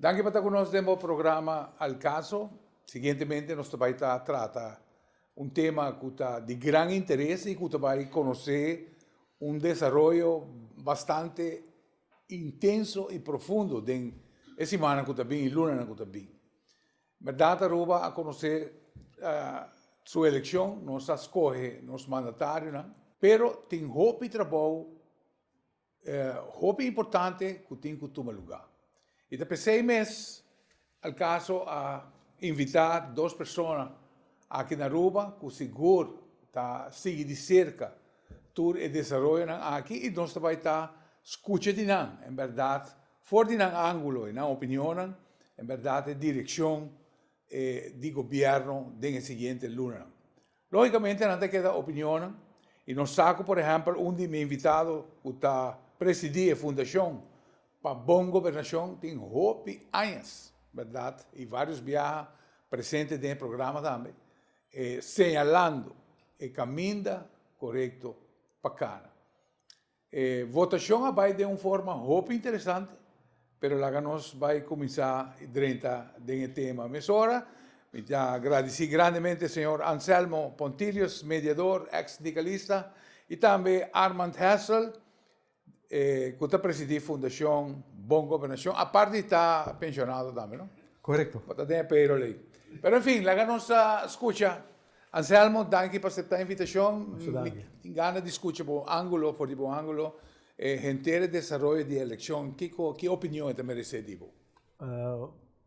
Danki pa ta ku nos den bo programa Al Caso. Siguientemente nos ta bai ta trata un tema ku ta di gran interes i ku ta bai konosé un desaroyo bastante intenso i profundo den e simannan ku ta bin, e lunanan ku ta bin. Mèrdat Aruba a konosé su elekshon, nos a skohe nos mandatarionan, pero tin hopi trabou E hopi importante ku tin ku tuma lugá. I ta p'esei mes Alcaso a invitá dos persona aki na Aruba ku sigur ta sigui di serka tur e desaroyonan aki i nos ta bai ta skucha di nan, en bèrdat for di nan ángulo, e nan opinionnan, en bèrdat e direkshon di gobièrnu den e siguiente lunanan. Lógicamente nan ta keda opinionnan y nos sa cu por ehempel un di mi invitado cu ta presidi e fundacion pa bon gobernacion tin hopi añas, berdad, y varios biaha presente den e programa tambe, señalando e caminda corecto pa cana. E votacion a bay den un forma hopi interesante, pero laga nos bay cuminsa y drenta den e tema. Mesora, mi ta gradici grandemente Señor Anselmo Pontilius, mediador, ex-sindicalista, y tambe Armand Hessel, e cu ta presidi Fundacion Bon Gobernacion, aparte di ta pensionado tambe, no? Correcto. Bo ta den e payroll ey. Pero, en fin, laga nos scucha. Anselmo, danki pa aseptá invitashon. Mi gana di skucha bo ángulo, for di bo ángulo, e henter desaroyo di e elekshon, kiko, ki opinion e ta meresé di bo?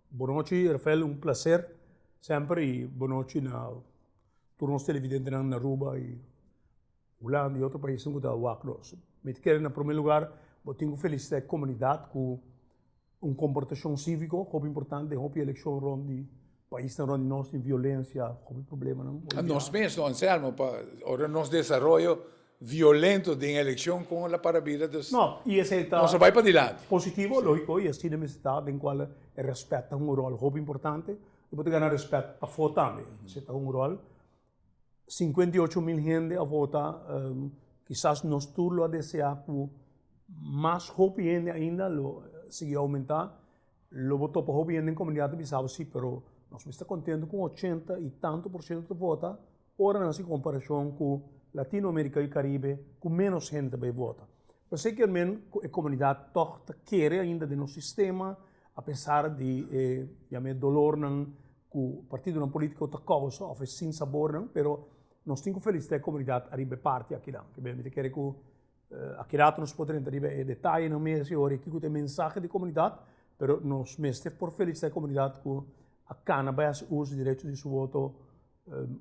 Bonochi, Rafael, un plaser semper i bonochi na tur nos televidentenan na Aruba i Hulanda i otro paisnan ku ta wak nos. Mi ta kere na promé lugar bo tin ku felisitá e komunidat ku Un komportashon síviko hopi importante, hopi elekshon rònt di paisnan rònt di nos tin violensia, hopi problemanan. A nos mesmu, Anselmo, pa ora nos desaroyo violento den elekshon, kon el a para bira? Dus No, i esei ta. Nos a bai padilanti. Positivo, lógiko, i asina mester ta, den kual e rèspèt ta hunga un ròl hopi importante, i bo ta gana rèspèt afó tambe. Esei ta hunga un ròl 50 y ocho mil hende a vota, kisas nos tur lo a desea ku mas hopi hende ainda lo sigui oumentá. Lo bo topa hopi hende den komunidat a bisa bo si, pero nos mester kontentu ku ochenta y tantu por siento ta vota ora nan hasi komparashon ku Latino Amerika i Karibe ku ménos hende ta bai vota. P'esei kier men ku e komunidat tòg ta kere ainda den nos sistema apesar di e, yam'é dolornan ku partidonan polítiko ta kousa òf e sin sabornan, pero nos tin ku felisitá e komunidat ariba e parti akinan. P'esei mi ta kere ku akirato nos por ta renta riba e detayenan mes i horia kiko ta e mensahe di komunidat, pero nos mester por felisitá e komunidat ku a kana bai hasi uso di derecho di su woto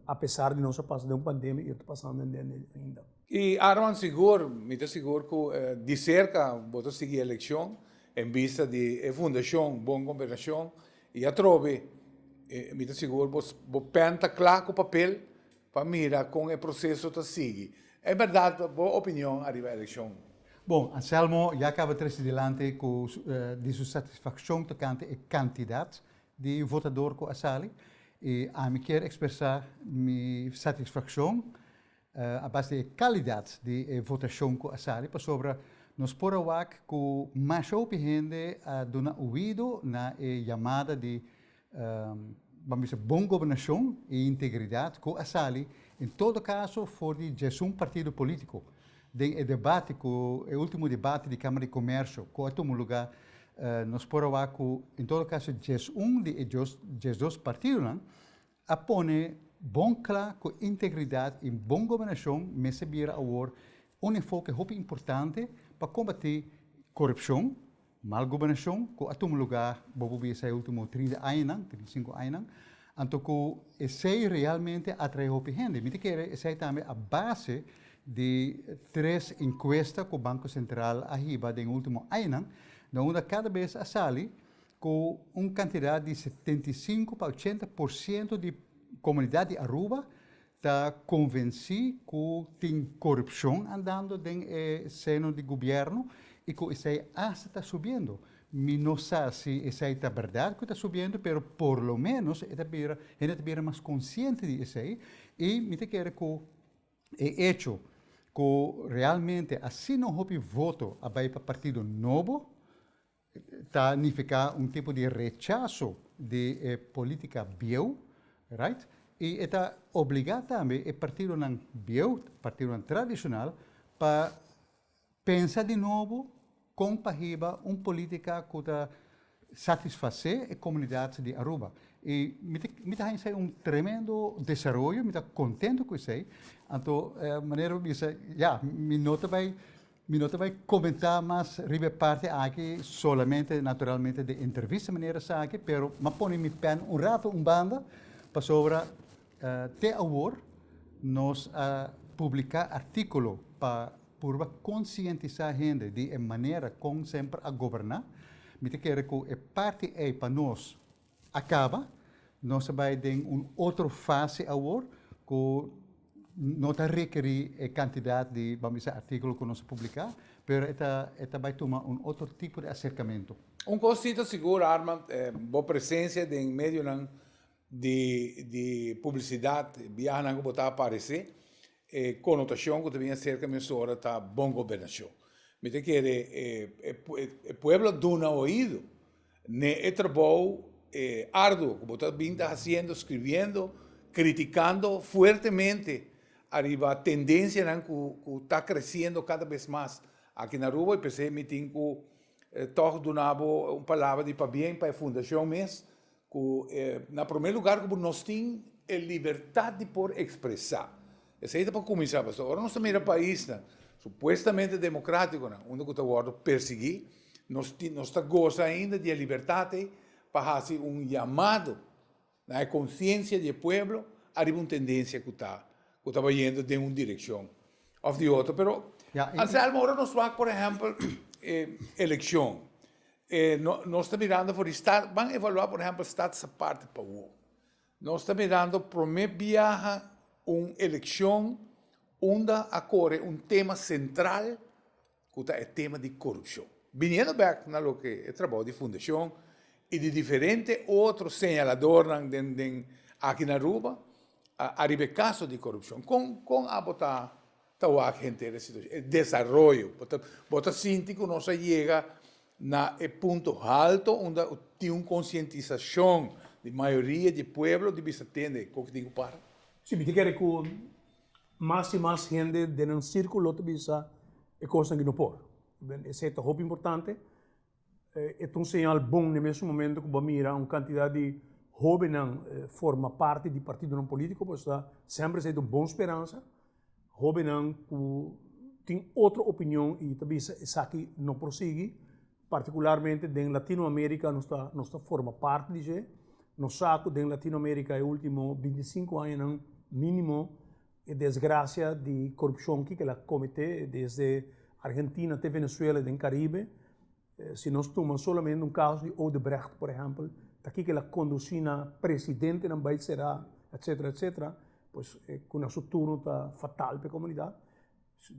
apesar di nos a pasa den un pandemia i ta pasando den dje ainda. I Arman sigur, mi ta sigur ku di serka bo ta sigui e elekshon en bista di e fundashon Bon Gobernashon I atrobe, mi ta sigur bo pèn ta kla ku papel pa mira kon e proseso ta sigui. En bèrdat, bo opinion ariba e elekshon? Bon, Anselmo ya kaba trese dilanti ku di su satisfakshon tokante e kantidat di votador ku a sali. I ami kier ekspresá mi satisfakshon a base di e kalidat di e votashon ku a sali, pasobra nos por a wak ku masha hopi hende a duna oido na e yamada di bam bisa bon gobernashon i integridat ku a sali, en todo kaso for di djesun partido politiko, den e debate ku e ultimo debate di Kamara di Komersio ku a tuma luga, nos por a wak ku en todo kaso djesun di e djesdos partidonan a pone bon cla cu integridad y bon gobernacion mester a bira awor un enfoke hopi importante pa combati corupcion, mal gobernacion cu a tuma lugar bobo bisa e ultimo trinta añanan, trinta y sinku añanan, anto cu esey realmente a trae hopi hende. Mi ta kere esey tambe a base di tres encuesta cu Banco Central a hiba den e ultimo añanan, na unda cada bes a sali Cu un cantidad di setenta y sinku pa ochenta por ciento di comunidad di Aruba ta convenci cu tin corupcion andando den e seno di gobierno y cu esai asta ta subiendo. Mi no sa si esai ta berdad cu ta subiendo pero por lo menos e ta bira, hende ta bira mas consciente di esai y mi ta kere cu e hecho cu realmente asina un hopi voto a bay pa partido nobo Ta nifiká un tipo di rechaso di e polítika bieu, right, i e ta obligá tambe e partidonan bieu, partidonan tradishonal, pa pensa di nobo kon pa hiba un polítika ku ta satisfasé e komunidat di Aruba. I mi ta mi ta haña esei un tremendo desaroyo, mi ta kontentu ku esei. Anto manera mi bisa, ya, mi no ta bai. Mi no ta bai comentá mas riba e parti aki, solamente naturalmente den entrevista mi nere esaki, pero m'a pone mi pen un rato un banda, pasobra te awor nos a publicá artículo pa purba concientisá hende di e manera con semper a goberná. Mi ta kere cu e parti ei pa nos a kaba, nos a bai den un otro fase awor ku no ta rekerí e kantidat di ba'm bisa artíkulo ku nos a publiká, pero e ta e ta bai tuma un otro tipo di aserkamentu. Un kos si ta sigur Armand, bo presensia den medionan di di publisidat, biahanan ku bo ta aparesé, e konotashon ku ta bin aserka mi mesora ta bon gobernashon. Mi ta kere e pueblo a duna oído. N'e e trabou e arduo ku bo ta bin ta hasiendo, skribiendo, kritikando fuertemente ariba tendensianan ku ku ta kresiendo kada bes mas aki na Aruba, i p'esei mi tin ku tòg duna bo un palabra di pabien pa e fundashon mes, ku na promé lugar ku bo nos tin e libertat di por ekspresá. Esei ta pa kuminsá, pasobra ora nos ta mira paisnan supuestamente demokratikonan unda ku ta wòrdu persiguí, nos tin, nos ta gosa ainda di e libertat ei pa hasi un yamado na e konsiensia di e pueblo ariba un tendensia ku ta ku ta bayendo den un direkshon òf di otro. Pero, Anselmo, ora nos wak por ehèmpel e elekshon, nos ta mirando for di stat, ban evaluá por ehèmpel stat sa parti pa wou. Nos ta mirando prome biaha un elekshon unda a kore un tema sentral ku ta e tema di korupshon. Biniendo bèk na loke e trabou di fundashon i di diferente otro señaladornan den aki na Aruba, ariba e kaso di korupshon, kon kon abo ta ta wak henter e situashon, e desaroyo. Bo ta, bo ta sinti ku nos a yega na e punto halto unda tin un konsientisashon di mayoria di e pueblo di bisa tende kon ke tin ku para? Si, mi ta kere ku mas i mas hende den nan sirkulo ta bisa e kosnan ke no por. E se'ta hopi importante. E ta un señal bon na e mes momento ku bo a mira un kantidat di hóbennan forma parti di partidonan polítiko, bo sta semper esei ta un bon speransa. Hóbennan ku tin otro opinion i ta bisa esaki no por sigui, partikularmente den Latino Amérika nos ta nos ta forma parti di dje. Nos sa ku den Latino Amérika e último binti i sinku añanan mínimo, E desgracia di corupcion ki kel a comete desde Argentina te Venezuela den Caribe, si nos tuma solamente un caso di Odebrecht por ehempel, ta ki kel a conduci na presidentenan bay cera, etcetera, etcetera, pues e cu na su turno ta fatal pa e comunidad.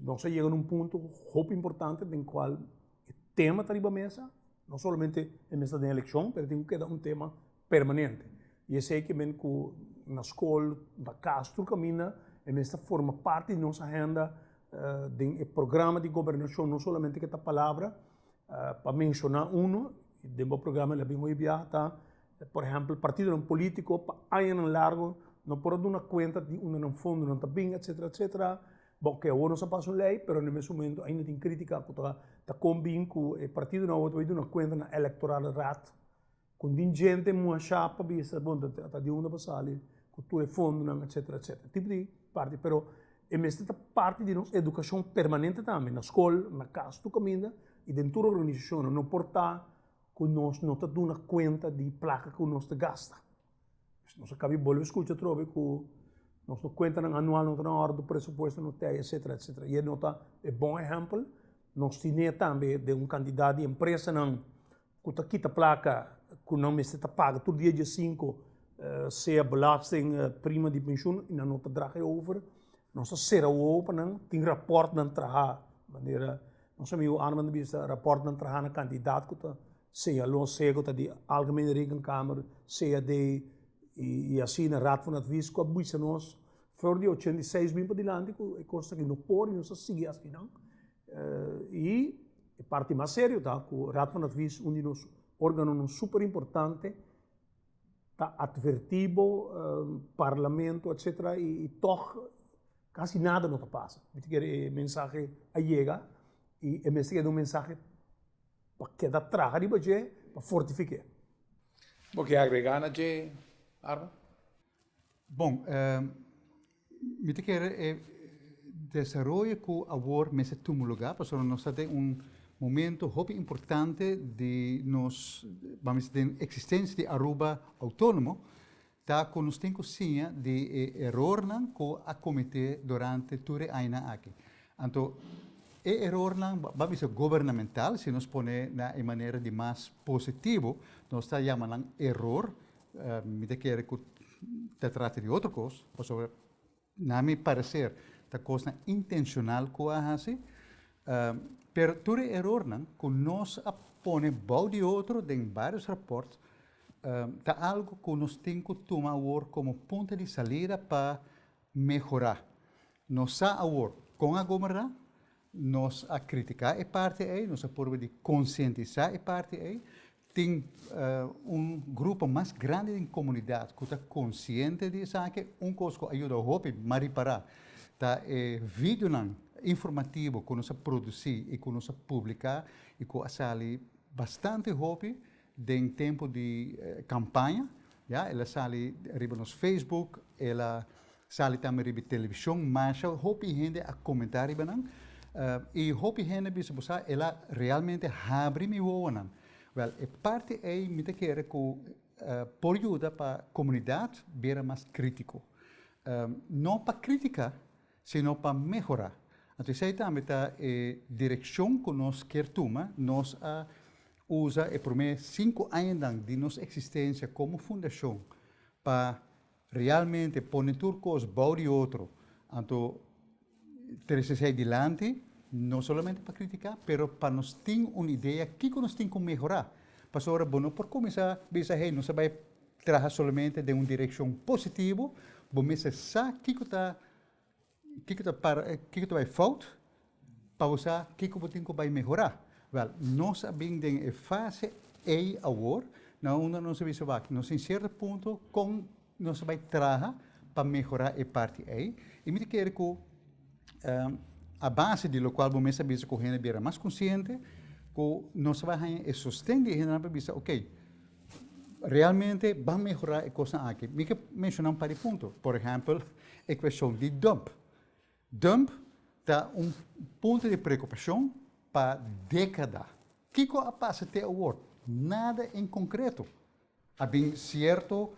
Nos a yega na un punto hopi importante den cual e tema ta riba mesa, no solamente e mester ta den eleccion pero tin cu keda un tema. permanente. I esei ke men ku na skol, na kas, tur kaminda e mester forma parti di nos ahenda den e programa di gobernashon, no solamente ke ta palabra. Pa menshoná unu, den bo programa el a bin hopi biaha ta, por ehèmpel, partidonan polítiko pa añanan largu no por a duna kuenta di unda nan fondonan ta bin, etsetera, etsetera. Bo ke awor nos a pasa un lei, pero na e mes momento ainda tin krítika ku ta kon bin ku e partidonan awor ta bai duna kuenta na elektoralraad. Con tin djente mua sha pa bisa bon ta ta di unda pa sali cu tur e fondonan etcetera etcetera. E tipo di parti pero e mester ta parti di nos educacion permanente tambe na scol, na cas tur caminda y den tur organisacionnan. No por ta cu nos no ta duna cuenta di placa cu nos ta gasta. Pues nos a cabi bolbe scucha atrobe cu nos no cuentanan anual no ta na orde, presupuesto no t'ei etcetera etcetera. Y e no ta e bon ehempel nos tine tambe den un cantidad di empresanan ku ta kita plaka ku nan mester ta paga tur dia dia sinku, sea belasting, prima di penshun, i nan no ta draga e over, nos ta sera wowo pa nan, tin rapòrt nan traha manera nos amigu Arman ta bisa, rapòrt nan traha na kantidat ku ta señaló, sea ku ta di Algemene Rekenkamer, sea di i asina Raad van Advies ku a bisa nos flor di ochenta i seis bin padilanti ku e kos aki no por i nos ta sigui asina. I e parti mas serio ta ku Raad van Advies, un di nos organonan super importante, ta atvertí bo, parlamento etc. I tòg kasi nada no ta pasa. Mi ta kere e mensahe a yega i e mester keda un mensahe pa keda traha riba dje pa fortifik'é. Bo ke agregá na dje, Arnold? Bon. Mi ta kere e desaroyo ku awor mester tuma lugá, pasobra nos ta den un momento hopi importante di nos, bam bisa den eksistensia di Aruba outónomo, ta ku nos tin ku siña di e erornan ku a kometé durante tur e añanan aki. Anto e erornan, bam bisa gubernamental, si nos pone nan e manera di mas positivo, nos ta yama nan eror, Mi ta kere ku ta trata di otro kos, pasobra na mi pareser ta kosnan intenshonal ku a hasi. Pero tur e erornan ku nos a pone bou di otro den barios rapòrt ta algu ku nos tin ku tuma awor komo punta di salida pa mehorá. Nos sa awor kon a gobernrá, nos a kritiká e parti ei, nos a purba di konsientisá e parti ei, Tin un grupo mas grandi den komunidat ku ta konsiente di esaki. Un kos ku a yuda hopi Mari Pará ta e videonan informativo ku nos a produsí i ku nos a publiká i ku a sali bastante hopi den tempu di kampaña. El a sali riba nos Facebook, el a Sali tambe riba e televishon masha hopi hende a komentá riba nan. I hopi hende a bisa, Bo sa, el a realmente habri mi wowonan. Wèl, e parti ei mi ta kere ku por yuda pa komunidat bira mas krítiko. No pa kritiká, sino pa mehorá. Anto esei tambe ta e direkshon ku nos kier tuma. Nos a usa e promé sinku añanan di nos eksistensia komo fundashon pa Realmente pone tur cos bao di otro, anto trece esey dilanti, no solamente pa critica, pero pa nos tin un idea kico nos tin cu mehora. Pasobra bo no por cuminsa bisa hei nos a bay traha solamente den un direccion positivo, bo mester sa kico ta. Kiko ta para, kiko ta bai fout pa bo sa kiko bo tin ku bai mehorá? Wèl, nos a bin den e fase ei awor na unda nos a bisa wak nos den sierto punto kon nos ta bai traha pa mehorá e parti ei. I mi ta kere ku a base di lokual bo mes a bisa ku hende a bira mas konsiente, ku nos a bai haña e sosten di e hendenan pa bisa, ok, Realmente ban mehorá e kosnan aki. Mi ke menshoná un par di punto. Por ehèmpel, e kueshon di dump. Dump ta un punto di preokupashon pa dékada. Kiko a pasa te awor? Nada en konkreto. A bin sierto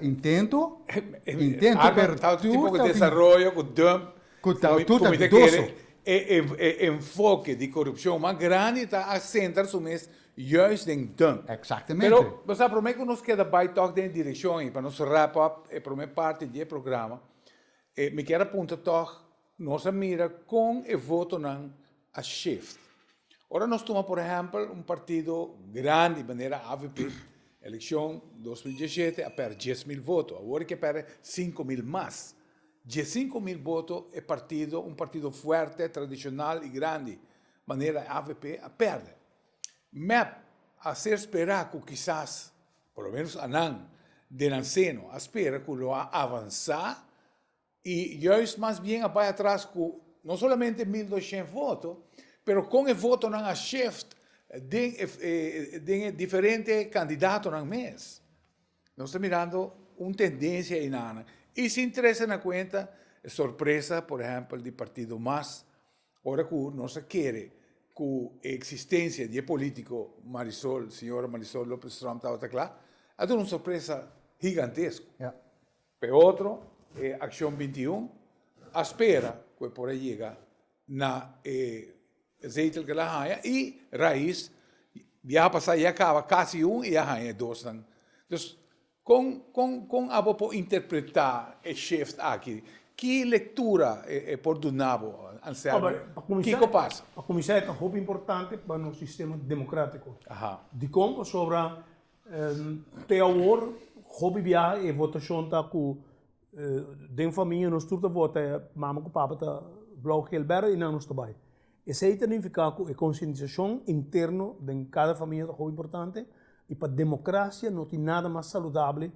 intento, intento, pero tur ta bin. Arbed, ta un tipo di desaroyo ku dump. Ku ta tur ta dudoso. E enfoke di korupshon mas grandi ta a sentra su mes Juist den dun. Pero Exactamente. bo sa prome cu nos keda bay tok den e direccion ayi pa nos wrap up e prome parti di e programa e mi kier a punta tok nos a mira con e votonan a shift. Ora nos tuma por ehempel un partido grandi manera avp eleccion dos mil diesshete a perde dies mil voto awor e ke perde cinco mil mas. Diescinco mil voto e partido un partido fuerte tradicional y grandi manera avp a perde. Mep a ser spera cu kisas, por lo menos anan den nan seno a spera cu lo a avansa y juist mas bien a bay atras cu no solamente mil doshent voto, pero con e votonan a shift den e diferente candidatonan mes. Nos ta mirando un tendencia enan y sin trece na cuenta e sorpresa, por ehempel, di partido mas, ora cu nos a kere cu e existencia di e politico Marisol, señora Marisol Lopez-Trump tabata cla, a duna un sorpresa gigantesco. Yeah. Pe otro, e Accion bintiun a spera cu e por a yega na e zeitel ke el a haña, i rais biaha pasá ya kaba kasi un i ya haña e dosnan. Dus, kon kon kon abo por interpretá e shift aki? Ki lektura e e por duna bo, Anselmo? Kiko pasa? Pa kuminsá e ta hopi importante pa nos sistema demokratiko. Dikon? Pasobra Te awor, hopi bia e votashon ta ku den famia nos tur ta vota, mama ku papa ta blou kil bèrdè i nan nos ta bai. Esei ta nifiká ku e konsientisashon interno den kada famia ta hopi importante i pa demokrasia no tin nada mas saludabel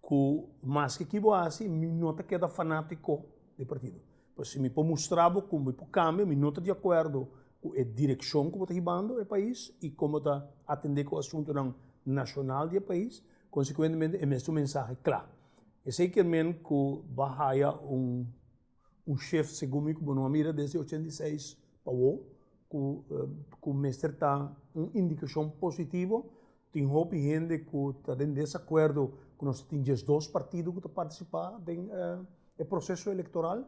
ku maske ki bo hasi mi no ta keda fanatiko di partido. Pero si mi por mustra bo ku mi por kambia, mi no ta di akuerdo ku e direkshon ku bo ta hibando e pais i kon bo ta atende ku asuntunan nashonal di e pais, konsekuentemente e mes ta un mensahe kla. Esei kier men ku bo haya un. Un shef, segun mi ku bo no a mira desde ochenta i seis pa wou, ku ku mester ta un indikashon positivo. Tin hopi hende ku ta den desakuerdo ku nos tin diesdos partido ku ta partisipá den e proseso elektoral,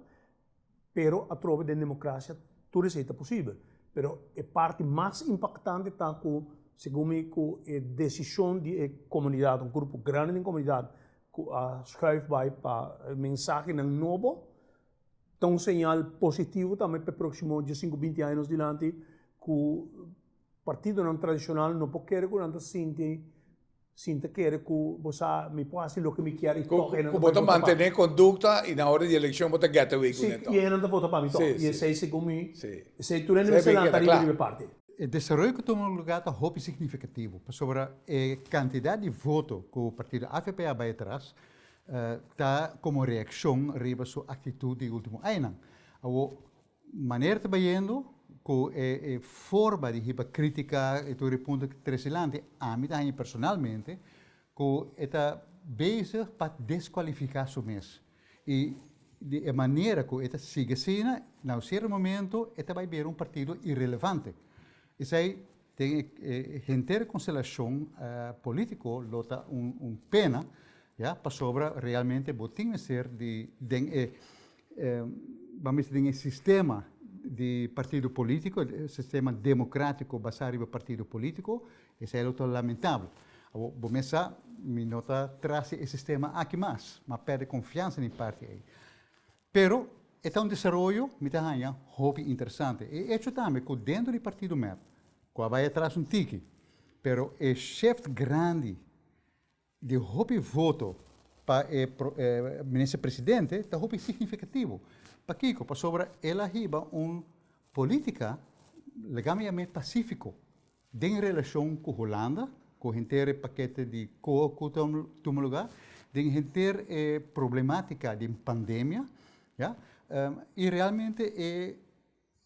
pero atrobe den demokrasia tur esei ta posibel. Pero e parti mas impaktante ta ku segun mi ku e desishon di e komunidat, un grupo grandi den komunidat, ku a skuif bai pa mensahenan nobo, ta un señal positivo tambe p'e próksimo djasinku binti añanan dilanti ku partidonan tradishonal no por kere ku nan ta sinti sin ta kere ku bo sa mi por hasi loke mi kier i tòg e nan ta bai vota pa mi. Ku bo ta mantené kondukta i na ora di elekshon bo ta gèt away ku nan tòg. Si, i e nan ta vota pa mi tòg i esei segun mi esei tur hende mester lanta riba di mi parti. E desaroyo ku tuma lugá ta hopi signifikativo, pasobra e kantidat di voto ku partido avp a bai atras ta komo reakshon riba su aktitut di e último añanan. Awo, manera ta bayendo ku e forma di hiba krítika i tur e punto ta trese lanti, ami ta haña personalmente ku e ta bezig pa deskualifiká su mes. I di e manera ku e ta sigui asina, na un sierto momento e ta bai bira un partido irelevante. Esei den e henter konstelashon polítiko lo ta un pena, ya, pasobra realmente bo tin mester di den e bamos bisa den e sistema di partido polítiko, sistema demokratiko basá riba partido polítiko. Esei lo ta lamentabel. Awor, bo mes sa, mi no ta tras di e sistema aki mas. Mi a pèrdè konfiansa den parti ei. Pero, e ta un desaroyo mi ta haña hopi interesante. E echo tambe ku dentro di partido mep, ku a bai atras un tiki, pero e shèft grandi di hopi voto pa e Minister Presidente ta hopi significativo. Pakico? Pasobra el a hiba un politica, laga mi yam'e pacifico, den relacion cu Holanda, cu henter e paquete di coa cu ta tuma luga, den henter e problematica den pandemia, ya, y realmente e.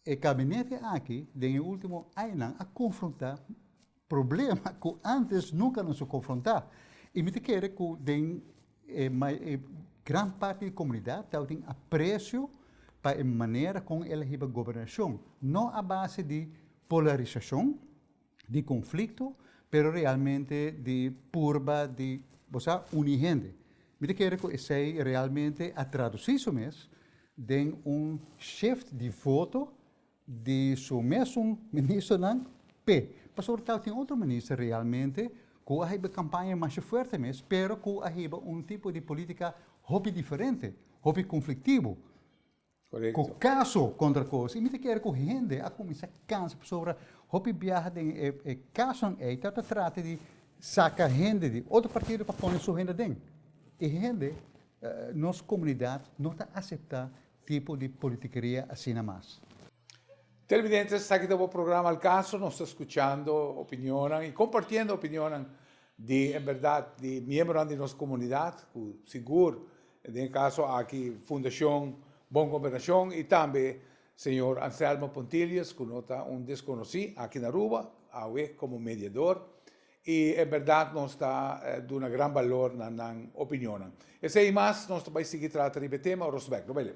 E kabinete aki den e último añanan a konfrontá problema ku ántes nunka nan su konfrontá. I mi ta kere ku den e gran parti di komunidat tabatin apresio pa e manera kon el a hiba gobernashon, no a base di polarisashon, di konflikto, pero realmente di purba di bo sa uni hende. Mi ta kere ku esei realmente a tradusí su mes den un shift di voto di su mesun ministernan p'e pasobra tal tin otro minister realmente ku a heba kampaña masha fuerte mes pero ku a heba un tipo di politika hopi diferente, hopi konfliktibu. Ku kaso kontra koos. I mi ta kere ku hende a kuminsá kansa pasobra hopi biaha den e kasonan ei ta trata di saka hende di otro partido pa pone su hende aden. I hende, nos komunidat no ta aseptá tipo di politikeria asina mas. Televidentes, esaki ta bo programa Al Caso. Nos ta skuchando opinionnan i kompartiendo opinionnan di en bèrdat di miembronan di nos komunidat ku sigur Den e kaso aki Fundashon Bon Gobernashon i tambe señor Anselmo Pontilius ku no ta un deskonosí aki na Aruba, awe komo mediador i en bèrdat nos ta duna gran balor na nan opinionnan. Esei i mas nos ta bai sigui trata riba e tema ora su bèk. No bai leu.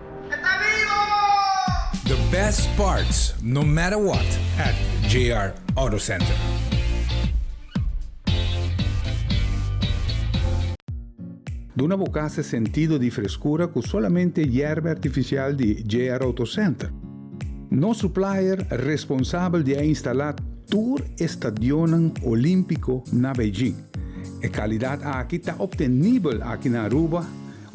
The best parts no matter what at JR Auto Center. Duna bo cas e sentido di frescura cu solamente yerba artificial di JR Auto Center. Nos supplier responsabel di a instala tur e stadionnan Olimpico na Beijing. E calidad aki ta obtenibel aki na Aruba,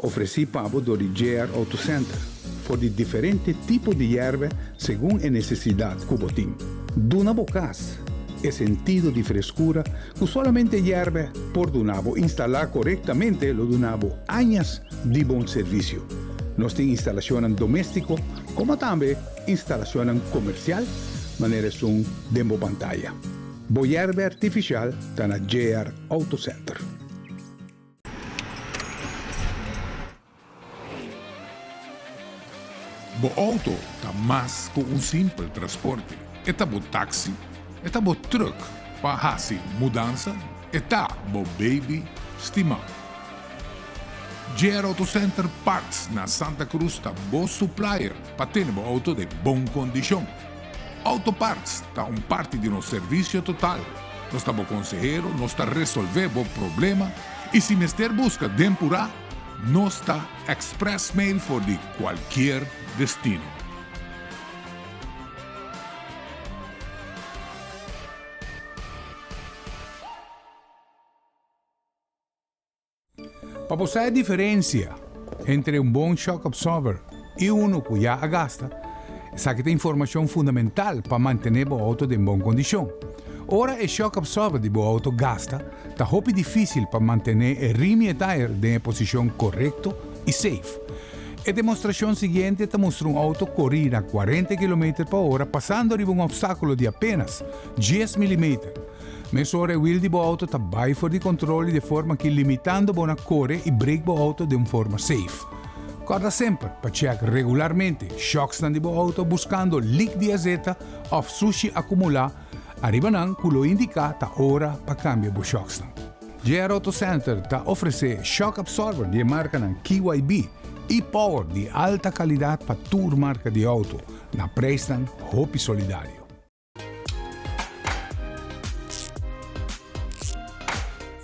Ofresí pa bo dor di JR Auto Center for di diferente tipo di yerbe segun e nesesidat ku bo tin. Duna bo kas e sentido di freskura ku solamente yerbe por duna bo. Instalá korektamente lo duna bo añas di bon servisio. Nos tin instalashonnan doméstiko komo tambe instalashonnan komersial manera esun den bo pantaya. Bo yerbe artifishal ta na JR Auto Center. Bo outo ta mas ku un simpel trasporte. E ta bo taksi, e ta bo trùk pa hasi mudansa, e ta bo beibi stimá. JR Auto Center Parts na Santa Cruz ta bo suplaier pa tene bo outo den bon kondishon. Auto Parts ta un parti di nos servisio total. Nos ta bo konsehero, nos ta resolvé bo problema i si mester buska den purá, nos ta express mail for di kualkier destino. Pa bo sa e diferensia entre un bon shock absorber i unu ku ya a gasta, esaki ta informashon fundamental pa mantené bo outo den bon kondishon. Ora e shock absorber di bo outo gasta, ta hopi difísil pa mantené e rim i e tire den e posishon korekto i seif. E demostrashon siguiente ta mustra un outo korí na kuarenta kilometer pa ora pasando riba un opstákulo di apénas dies milimeter, Mesora e wiel di bo auto ta bai for di controle de forma ki limitando bo na core y brake bo auto den forma safe. Corda semper pa check regularmente shocksnan di bo auto buscando leak di azeta of sushi acumula ariba nan cu lo indica ta ora pa cambia bo shocksnan. JR Auto Center ta ofrece shock absorber di e marcanan KYB y power di alta calidad pa tur marca di auto na prijsnan hopi solidario.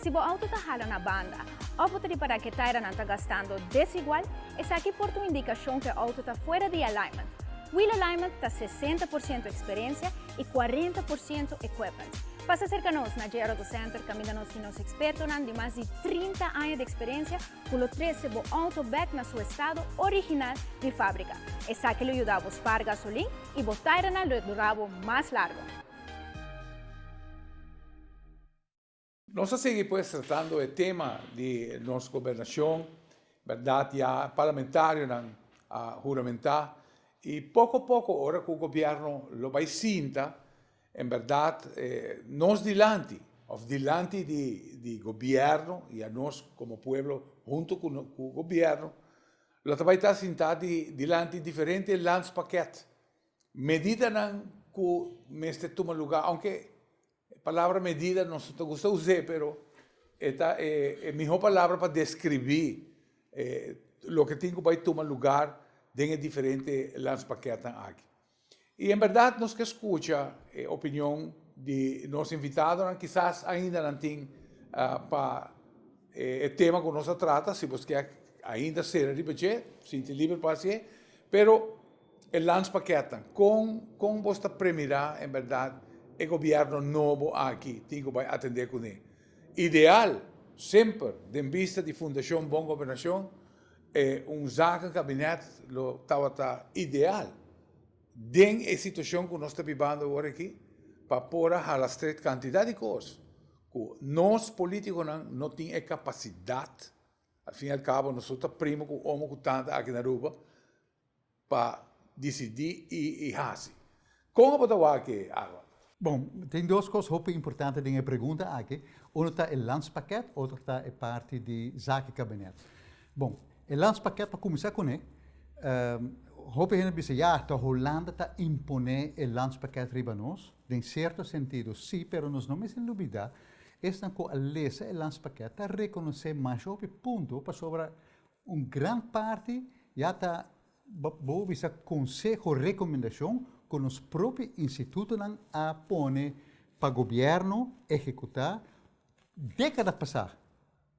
Si bo auto ta hala na banda òf bo ta ripará ku e tairanan ta gastando desigual, esaki por ta un indikashon ku e auto ta fuera di alignment. Wheel alignment ta sesenta por siento eksperensia i kuarenta por siento equipment. Pasa serka nos na JRautocenter kaminda nos tin nos ekspertonan di mas di trinta aña di eksperensia, ku lo trese bo outo bek na su estado original di fábrika. Esaki lo yuda bo spaar gasolin i bo tairanan lo dura bo mas largo. Nos a sigui pues tratando e tema di nos gobernashon, berdad ya parlamentarionan a huramentá i poko poko ora ku gobièrnu lo bai sinta, En berdad, nos dilanti, of dilanti di Gobierno y anos como pueblo hunto cu Gobierno, lo ta bay ta sinta dilanti diferente landspakket, medidanan cu mester tuma lugar, aunke e palabra medida nos no ta gusta uze, pero e ta e miho palabra pa describi loke tin cu bay tuma lugar den e diferente landspakketten aki. Y en berdad nos ke skucha e opinion di nos invitadonan, kisas ainda nan tin pa e tema ku nos a trata, si boske ainda sera riba dje, sinti liber pa hasié, pero e lans pakèt nan, kon kon bos ta premirá en berdad e gobièrnu nobo aki tin ku bai atendé kuné? Ideal semper den bista di Fundashon Bon Gobernashon. E un zaken kabinet lo tabata ideal den e situashon ku nos ta bibando ora aki pa por a hala stret kantidat di kos ku nos polítikonan no tin e kapasidat. Al fin y al kabo nosotor ta primo ku omo ku tanta aki na Aruba. pa disidí i hasi. Kon bo ta wak e awa? Bon, tin dos kos hopi importante den e pregunta aki. Uno ta e landspaket, otro ta e parti di zakenkabinet. Bon, e landspaket pa kuminsá kuné, hopi hende a bisa, ya, ta Holanda ta imponé e landspaket riba nos? Den sierto sentido sí, pero nos no mester lubidá, esnan ku a lesa e landspaket ta rekonosé masha hopi punto, pasobra Un gran parti ya ta, bo bisa konseho, rekomendashon ku nos propi institutonan a pone pa gobièrnu ehekutá dékada pasá,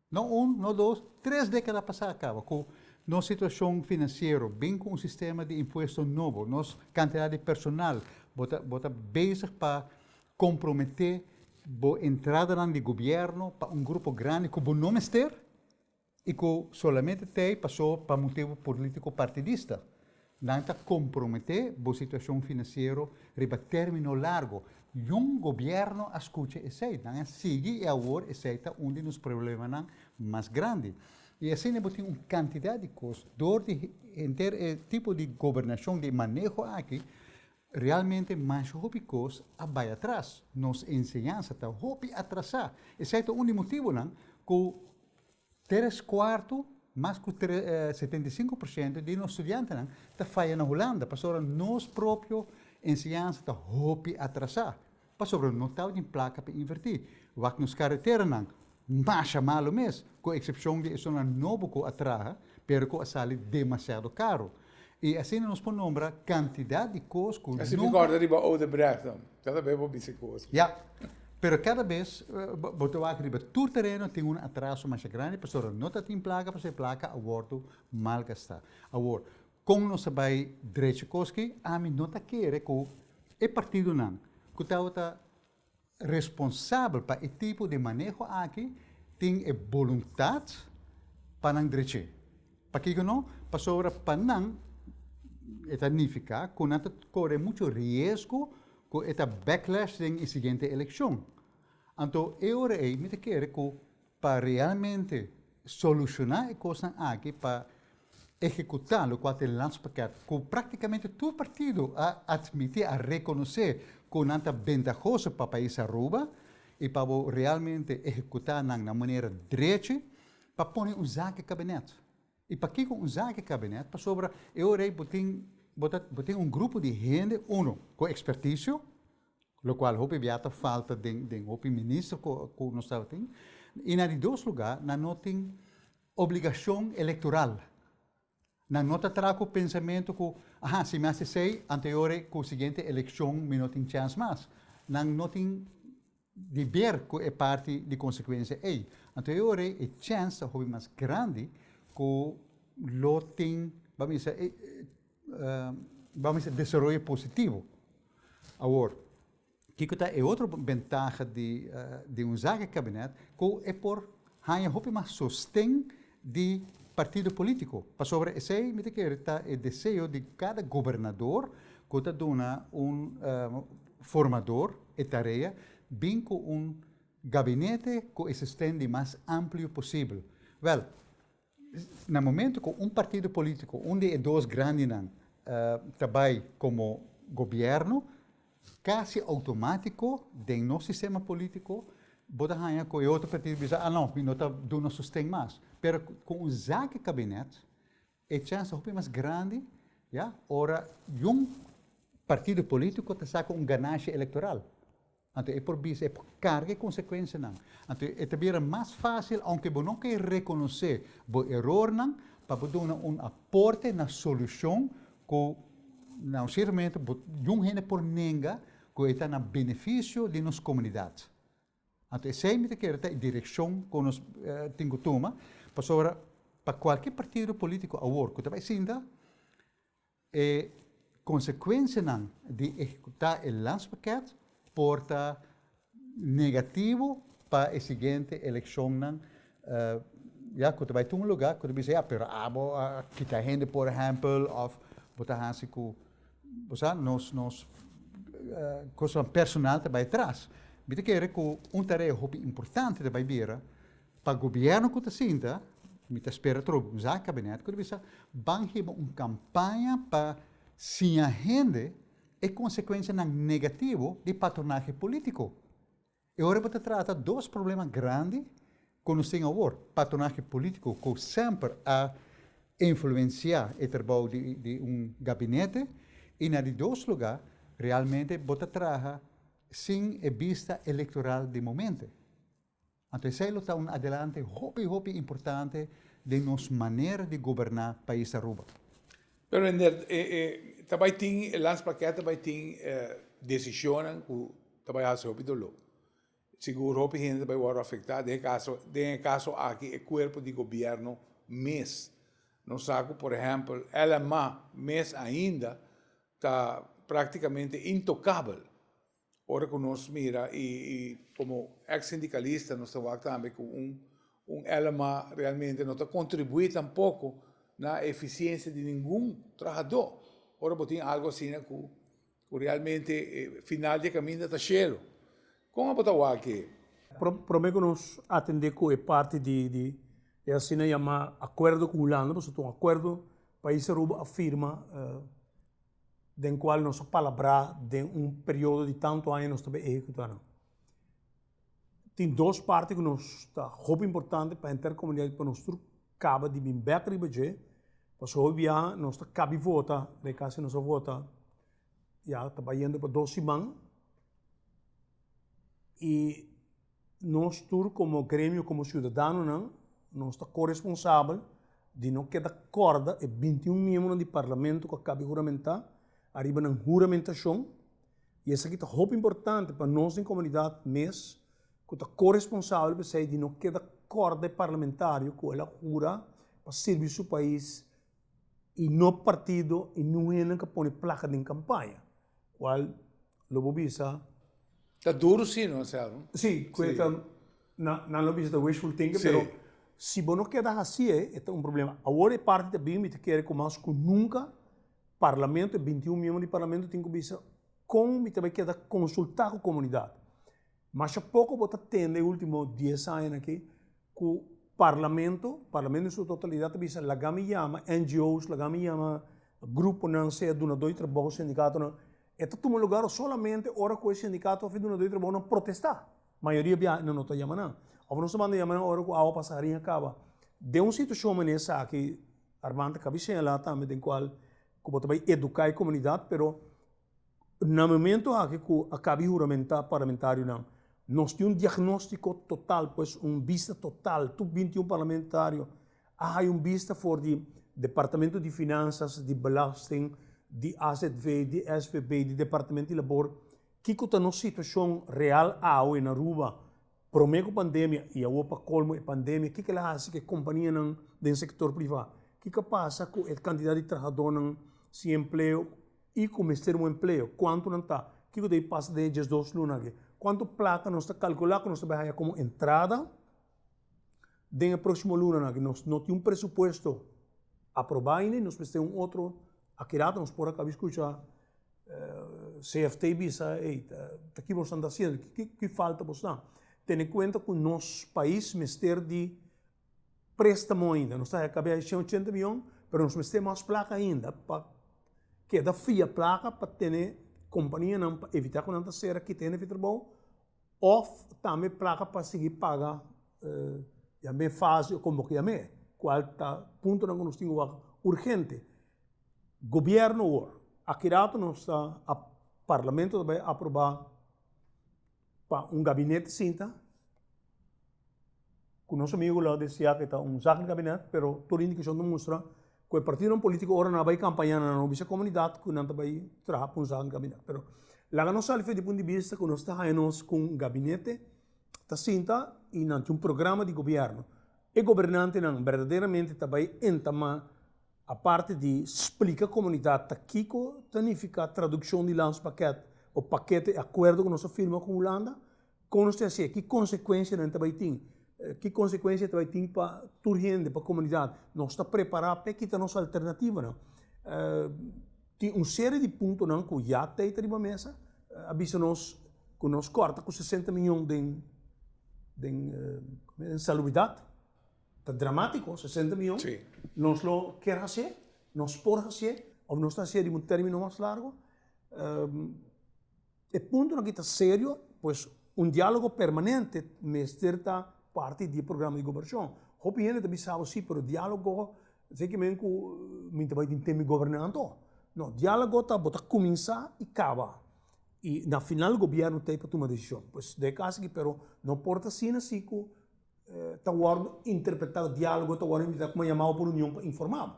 no un, no dos, tres dékada pasá kaba, ku nos situashon finansiero bin ku un sistema di impuesto nobo, nos kantidat di personal, bo ta, bo ta bezig pa komprometé bo entradanan di gobièrnu pa un grupo grandi ku bo no mester. I ku solamente ta ei pasó pa motibu polítiko partidista. Nan ta komprometé bo situashon finansiero riba término largo. Niun gobièrnu a skucha esei. Nan a sigui i awor esei ta un di nos problemanan mas grandi. I asina bo tin un kantidat di kos dor di henter e tipo di gobernashon, di maneho aki, realmente masha hopi kos a bai atras. Nos enseñansa ta hopi atrasá. Esei ta un di motibunan ku. Tres kuartu, mas ku setenta i sinku por sientu, di nos studiantenan ta faya na Hulanda pasobra nos propio enseñansa ta hopi atrasá, pasobra no tabatin plaka pa invertí. Wak nos kareteranan masha malu mes, ku eksepshon di esunnan nobo ku a traha, pero ku a sali demasiado karu. I asina nos por nombra kantidat di kos ku nunka. Si mi kòrda riba Odebrecht dan kada bes bo bisa kos ku. Ya. Pero kada bes bo ta wak riba tur tereno tin un atraso masha grandi pasobra no ta tin plaka pasobra e plaka a wòrdu mal gastá. Awor, kon nos ta bai drechi kos ki? Ami no ta kere ku e partidonan ku tabata. Responsabel pa e tipo di maneho aki tin e boluntat pa nan dreché. Pakiko no? Pasobra pa nan e ta nifiká ku nan ta kore muchu riesgo ku e ta backlash den e siguiente elekshon. Anto e ora ei mi ta kere ku pa realmente solushoná e kosnan aki pa ehekutá lo ku a tene lans pakèt ku práktikamente tur partido a atmití, a rekonosé ku nan ta bentahoso pa pais Aruba i pa bo realmente ehekutá nan na un manera drechi pa pone un zaki kabinèt. I pakiko un zaki kabinet? Pasobra e ora ei bo tin bo ta bo tin un grupo di hende uno ku ekspertisio, lokual hopi bia ta falta den den hopi minister ku ku nos tabata tin, i na di dos lugá nan no tin obligashon elektoral. Nan no ta traha ku pensamentu ku aha si mi hasi esei anto e ora ei ku siguiente elekshon mi no tin chèns mas. Nan no tin. di ber cu e parti di consecuencia ey. Anto e ora ey e chens ta hopi mas grandi cu lo tin, ba mester e, ba mester desaroyo positivo. Awor, kico ta e otro bentaha di un zaga cabinet, cu e por haya hopi mas sosten di partido politico, pasobra esey mi ta kere ta e deseo di cada gobernador cu ta duna un formador e tarea bin cu un gabinete cu e sisten di mas amplio posibel. Wel, na momento cu un partido politico, un di e dos grandinan, ta bay como gobierno, Casi automatico den nos sistema politico bo ta haya cu e otro partido bisa, ah no, mi no ta duna sosten mas. Pero cu un zaki cabinet e chance ta hopi mas grandi, ya, ora young partido politico ta saca un ganashi electoral. Anto e por bisa, e por carga e consecuencianan. Anto e ta bira mas facil, aunke bo no ke reconoce bo erornan, pa bo duna un aporte na solucion Ku na un sierto momento bo yun hende por nenga ku e ta na benefisio di nos komunidat. Anto esei mi ta kere ta e direkshon ku nos tin ku tuma, pasobra pa kualke partido politiko awor ku ta bai sinta e konsekuensianan di ehekutá e lanspakèt por ta negativo pa e siguiente eleccionnan ya cu ta bay tun lugar cu ta bisa ya pero abo a kita hende por ehempel of bo ta hasi cu bo sa nos nos cosnan personal ta bay atras mi ta kere cu un tarea hopi importante ta bay bira pa gobierno cu ta sinta mi ta spera trobe un sa cabinet cu ta bisa ban hiba un campaña pa siña hende E consecuencianan negativo di patronahe politico. E ora bo ta trata dos problema grandi cu nos tin awor, patronahe politico cu semper a influencia e trabou di un gabinete y na di dos lugar realmente bo ta traha sin e bista electoral di momente. Anto esei lo ta un adelante hopi hopi importante den nos manera di goberná pais Aruba. Pero Ender, e e ta bai tin, e landspakket ta bai tin desishonnan ku ta bai hasi hopi doló. Sigur hopi hende ta bai wòrdu afektá. Den e kaso, den e kaso aki e kuerpo di gobièrnu mes, nos sa ku por ehèmpel LMA mes ainda ta praktikamente intokabel. Ora cu nos mira y como ex sindicalista nos ta wak tambe cu un LMA realmente no ta contribui tampoco na eficiencia di ningun trahador. Ora bo tin algo asina cu realmente e final di e caminda ta shelu, con abo ta wak e? Prome cu nos atende cu e parti di e asina yama acuerdo cu Hulanda, pasobra ta un acuerdo pais Aruba a firma. den cual nos a palabrá den un periodo di tanto aña nos ta bay ehecutá nan. Tin dos parti cu nos ta hopi importante pa henter comunidad y pa nos tur caba di bin bek riba dje, pasobra hopi biaha nos ta cabi vota, den cas si nos a vota ya ta bayendo pa dos siman y. Nos tur komo gremio, komo siudadanonan, nos ta koresponsabel di no keda kòrda e binti un miembronan di parlamento ku a kabi huramentá ariba nan huramentashon. I esaki ta hopi importante pa nos den komunidat mes ku ta koresponsabel p'esei di no keda kòrda e parlamentario ku el a hura pa sirbi su pais y no partido y no hende ka pone placa den campaña cual lo bo bisa. Ta duro si no hacerlo. Si, koe ta nan nan lo bisa ta wishful thinking pero si bo no keda haci e e ta un problema. Awor e parti ta bini mi ta kere cu mas cu nunca parlamento e bintiun miembro di parlamento tin cu bisa con mi ta bay keda consulta cu comunidad. Masha poko bo ta tende e ultimo dies aña nan aki ku parlamento, parlamento en su totalidat ta bisa laga mi yama NGOs, laga mi yama gruponan sea dunadó di trabou, sindikatonan, e ta tuma lugar solamente ora ku e sindikato òf e dunadó di trabou nan protestá. Mayoria biaha nan no ta yama nan. Òf nos ta manda yama nan ora ku awa pasa harin a kaba. Den un situashon mané esaki Armando a kaba di señalá tambe den kual ku bo ta bai eduká e komunidat pero. Na momento aki ku a kabi huramentá parlamentarionan, nos tin un diagnóstiko total, pues un bista total. Tur binti un parlamentario a haya un bista for di Departamento di Finansas, di Belasting, di azv, di svb, di Departamento di Labor, kiko ta nos situashon real awe na Aruba, promé ku pandemia i awor pa kolmo e pandemia. Ke kila hasi ku e kompanianan den sektor privá? Kiko a pasa ku e kantidat di trahadónan sin empleo? I ku mester un empleo, kuantu nan ta? Kiko ta e pasa den e diesdos luna akí? Kuantu plata nos ta kalkulá ku nos ta bai haña komo entrada den e próksimo lunanan akí? Nos no tin un presupuesto aprobá ainda i nos mester un otro. A keda rato nos por a kaba skucha CFT bisa, ey, ta kiba boso nan ta hasiendo? Ki falta boso nan? Tene kuenta ku nos pais mester di. préstamo ainda. Nos ta kab'é a shen ochenta mion, pero nos mester mas plaka ainda pa keda fia plaka pa tene kompanianan pa evitá ku nan ta sera kita hende fi trabou òf tambe plaka pa sigui paga yam'é fase o komo ke yam'é kual ta puntonan ku nos tin ke wak urgente. Gobièrnu awor, a kidatu nos ta, Parlamento ta bai aprobá. pa un gabinete sinta, ku nos amigu la di siak e ta un zak di gabinet, pero tur indikashon ta mustra ku e partidonan politiko ora nan a bai kampaña nan a bisa e komunidat ku nan ta bai traha pa un zak di gabinet. Pero laga nos sali di punto di bista ku nos ta haña nos ku un gabinete ta sinta i nan tin un programa di gobièrnu. E gobernantenan berdaderamente ta bai entamá Aparte di splika komunidat ta kiko ta nifiká tradukshon di lanspakèt o pakete e akuerdo ku nos a firma ku Hulanda, kon nos ta hasié, ki konsekuensianan ta bai tin, ki konsekuensia ta bai tin pa tur hende, pa komunidat, nos ta prepará p'e kita nos alternativanan. Tin un serie di puntonan ku ya tei ta riba mesa, a bisa nos ku nos kòrta ku sesenta mion den den salubridat. Ta dramático, sesenta miyon. Sí. Nos lo ker hasié, nos por hasié, of nos ta hasié riba un término mas largo. e puntonan aki ta serio, pues un diálogo permanente mester ta parti di e programa di goberashon. Hopi hende ta bisa bo sí, pero diálogo esei ke men ku mi ta bai tin teme gobernanto. No, diálogo ta bo ta kuminsá i kaba, i na final gobièrnu ta e pa tuma desishon. Pues dje kasa aki, pero no por ta asina si ku. ta wòrdu interpretá, diálogo ta wòrdu interpretá kuma yamá pa un reunion pa informá bo.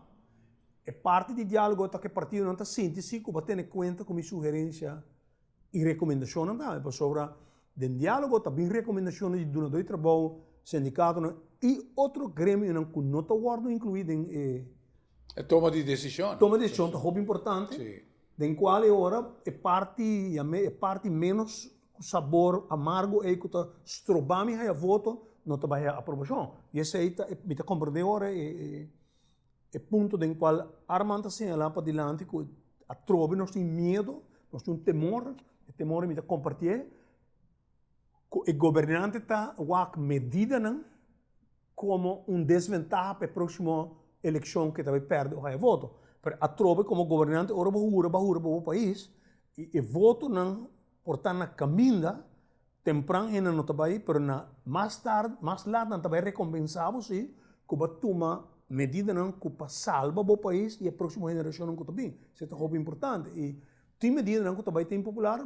E parti di diálogo ta ku e partidonan ta sinti si ku bo a tene kuenta ku mi sugerensia i rekomendashonnan tambe. Pasobra den diálogo ta bin rekomendashonnan di dunadó di trabou, sindikatonan i otro gremionan ku no ta wòrdu inkluí den e. E toma di desishonnan. Toma di desishonnan ta hopi importante den kual e ora e parti, yam'é e parti ménos. ku sabor amargo ei ku ta stroba mi haya voto, no ta bai haya aprobashon. I esei ta, mi ta komprendé ora e punto den kual Arman ta señalá padilanti ku atrobe nos tin miedu, nos tin un temor, e temor ei mi ta kompartié, ku e gobernante ta wak medidanan komo un desventaha pa e próksimo elekshon ku e ta bai pèrdè haya voto. Pero atrobe komo gobernante ora bo hura, bo a hura pa bo pais, i e votonan. Por ta na kaminda, tempran e nan no ta bai, pero na mas tard, mas lat nan ta bai rekompensa bo si ku bo a tuma medidanan ku pa salba bo pais i e proksimo henerashonnan ku ta bin. Se ta hopi importante. I tin medidanan ku ta bai ta impopular,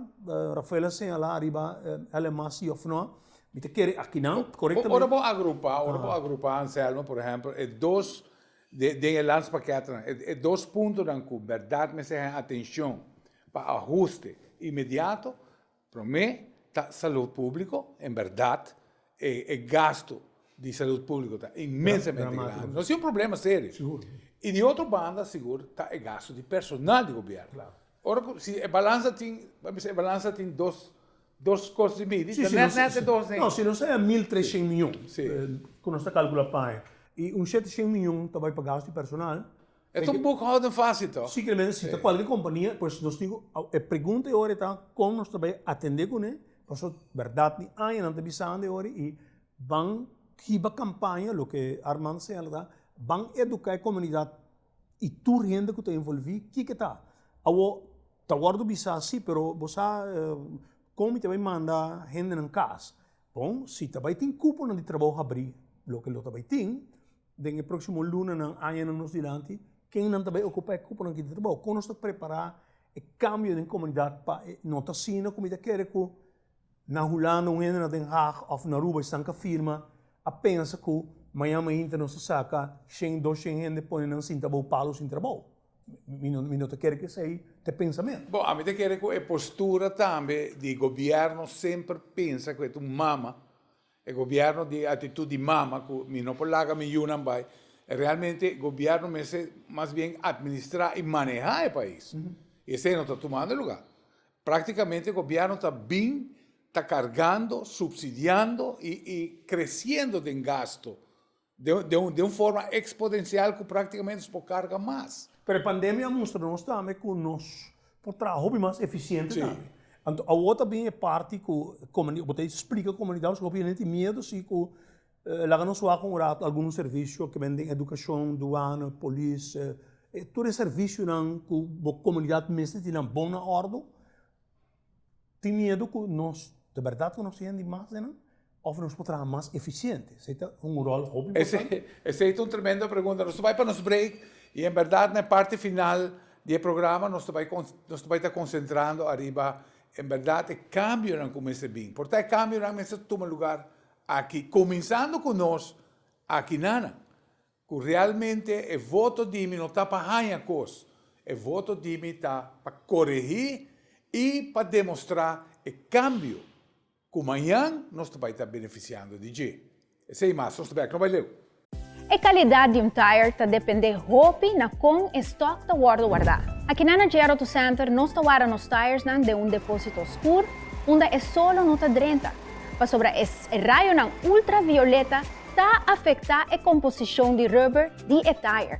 Rafael a señala ariba LMA si òf nò, mi ta kere aki nan korektamen. Ora bo agrupa, ora bo agrupa, Anselmo, por ehèmpel, e dos. Den e lans pakètnan, e dos puntonan ku bèrdat mester haya atenshon pa ahuste inmediato, promé ta salud públiko, en bèrdat e gastu di salud públiko ta inmensamente grandi, nos tin un problema serio, i di otro banda sigur ta e gastu di personal di gobièrnu. Ora ku si e balansa tin, mester e balansa tin dos. Dos cos di bidi, ta net net e dos ding. No, si nos a haña mil trescient mion, cu nos ta calcula pa haña, y un shetecient mion ta bay pa gasto di personal. E ta un boekhouding fácil toch? Sí, kiermester si ta cualkier compania, pues nos tin cu, e pregunta e ora ta con nos ta bay atende cune, pasobra berdad mi haña nan ta bisando e ora y ban hiba campaña, loke Armand ta señala ta, ban educa e comunidad. I tur hende ku ta envolvi kiko ta? Awo ta wordu bisa si pero bo sa kon mi ta bai manda hendenan kas? Bon si ta bai tin kuponan di trabou habri loke lo ta bai tin den e proksimo lunanan añanan nos dilanti ken nan ta bai okupa e kuponan aki di trabou? Kon nos ta prepara e kambio den komunidat pa no ta asina ku mi ta kere ku Na Hulanda un hende na Den Haag òf na Aruba esnan ka firma a pensa ku mañan mainta nos ta saka shen, dos shen hende pone nan sinta bou palu sin trabou. Mi no, mi no ta kere ku esei ta e pensamentu. Bon, ami ta kere ku e postura tambe di gobièrnu semper pensa ku e ta un mama, e gobièrnu di atitut di mama ku mi no por laga mi yunan bai. Realmente e gobièrnu mester mas bien atministrá i manehá e pais. I esei no ta tumando lugá. Práktikamente gobièrnu ta bin ta kargando, supsidiando i kresiendo den gastu den un forma eksponensial ku práktikamente nos por karga mas. Pero e pandemia a mustra nos tambe ku nos por traha hopi mas efisiente tambe. Anto awor ta bin e parti ku bo ta esplika komunidat, gobièrnu tin miedu si ku. Laga nos wak un rato algun servisio ku bai den edukashon, duana, polis, e tur e servisionan ku bo komunidat mester tin nan bon na òrdu. Tin miedu ku nos ta bèrdat konosé hende mas den nan? Òf nos por traha mas efisiente? Esei ta un ròl hopi importante. Esei ta un tremendo pregunta. Nos ta bai pa nos break i en bèrdat na e parti final di e programa nos ta bai nos ta bai ta konsentrando ariba en bèrdat e kambionan ku mester bin. Por ta e kambionan mester tuma lugar. Aki, kuminsando ku nos akinanan, ku realmente e voto di mi no ta pa haña kos, e voto di mi ta pa koregí i pa demostrá e kambio ku mañan nos ta bai ta benefisiando di dje. Esei mas, nos ta bai aki, no bai leu. E kalidat di un tire ta dependé hopi na kon e stòk ta wòrdu wardá. Akinan na JR Auto Center nos ta warda nos tiresnan den un depósito oskur unda e solo no ta drenta, pasobra e rayonan ultravioleta ta afektá e komposishon di rùber di e tire.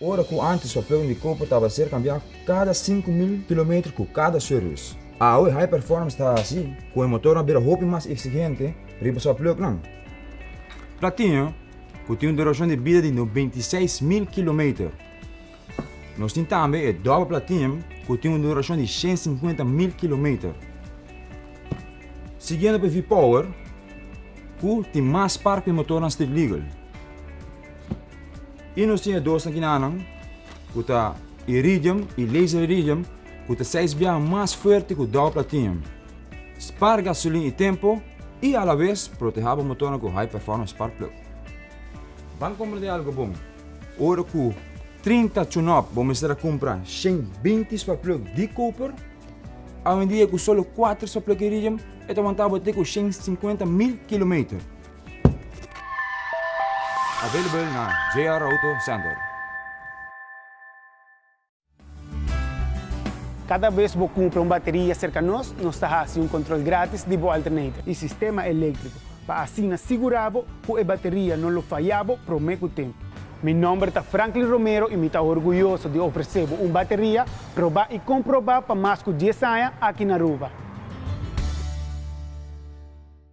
Ora ku antes papleon di koper tabata ser kambiá kada sinku mil kilometer ku kada sue rus, awe e High Performance ta hasi ku e motornan bira hopi mas eksigente riba su papleoknan. Platinyo, ku tin un durashon di bida di noventa i seis mil kilometer. Nos tin tambe e Double Platinum ku tin un durashon di shen sinkuenta mil kilometer. Siguiendo p'e V-Power ku tin mas par ku e motornan Street Legal. I nos tin e dos nakinanan ku ta Iridium i Laser Iridium ku ta seis biaha mas fuerte ku Dow Platinum. Spar gasolin i tempo i a la vez proteha bo motornan ku high performance spark plug. Ban komprende algo bon, ora ku trinta tune-up bo mester a kumpra shen binti spark plug di koper, awendia ku solo kuater spark plug Iridium e ta wanta bo te ku shen sinkuenta mil kilometer. Available na JR Auto Center. Kada bes bo kumpra un bateria serka nos, nos ta hasi un kontrol grátis di bo alternator i sistema eléktriko pa asina sigurá bo ku e bateria no lo fayá bo promé ku tempu. Mi nòmber ta Franklin Romero i mi ta orguyoso di ofresé bo un bateria probá i komprobá pa mas ku dies aña aki na Aruba.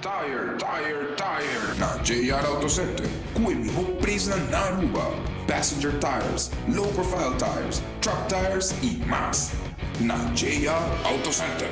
Tire, tire, tire na JR Auto Center cu e miho presnan na Aruba, passenger tires, low profile tires, truck tires y mas. Na JR Auto Center.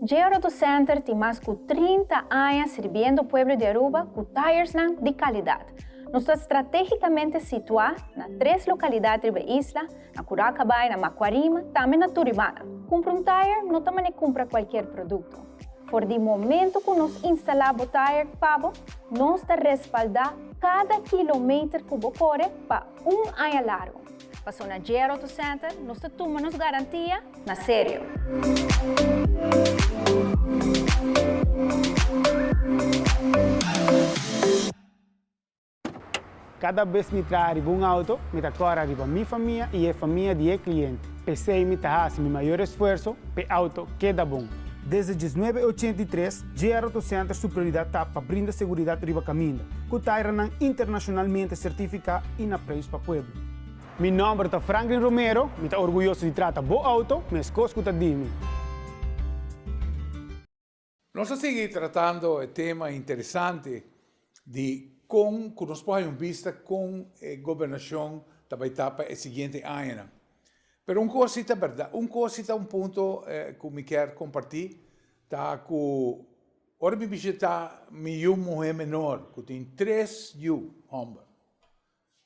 JR Auto Center tin mas cu trinta aña sirbiendo pueblo di Aruba cu tiresnan di calidad. Nos ta strategicamente situa na tres localidad riba isla, Na Curao Cabay, na Macuarima, tambe na Turibana. Cumpra un tire no ta mane cumpra cualkier producto. For di momento cu nos instala bo tire pa bo, nos ta respalda cada kilometer cu bo core pa un aña largo. Paso na J-R Auto Center, nos ta tuma nos garantia na serio. Kada bes mi traha riba un auto, mi ta kòrè riba mi famia i e famia di e kliente. P'esei mi ta hasi mi mayor esfuerso p'e auto keda bon. Desde diesnuebe e ochenta i tres, JR Auto Center su prioridat ta pa brinda seguridat riba kaminda, ku tairanan internashonalmente sertifiká i na preis pa pueblo. Mi nòmber ta Franklin Romero, mi ta orguyoso di trata bo auto, meskos ku ta di mi. Nos a sigui tratando e tema interesante di con cu nos por haña un bista con e gobernacion ta bay ta pa e siguiente añanan. Pero un cos si ta berdad, un cos si ta un punto cu mi kier comparti ta cu ora mi bishita mi yu muhe menor cu tin tres yu homber,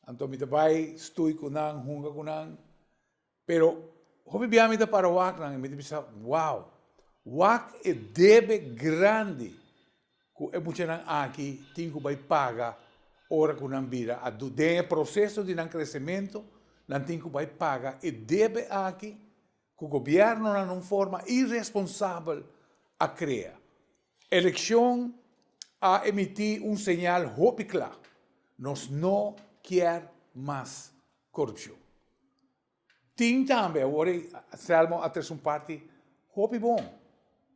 anto mi ta bay stui cu nan, hunga cu nan, Pero hopi bia mi ta para waknan i mi ta bisa, wow, wak e debe grandi ku e muchanan aki tin ku bai paga ora ku nan bira adu. Den e proseso di nan kresementu nan tin ku bai paga e debe aki ku gobièrnunan na un forma iresponsabel a krea. Elekshon a emití un señal hopi kla, nos no kier mas Korupshon. Tin tambe, awor ei Selmo a tres un parti hopi bon.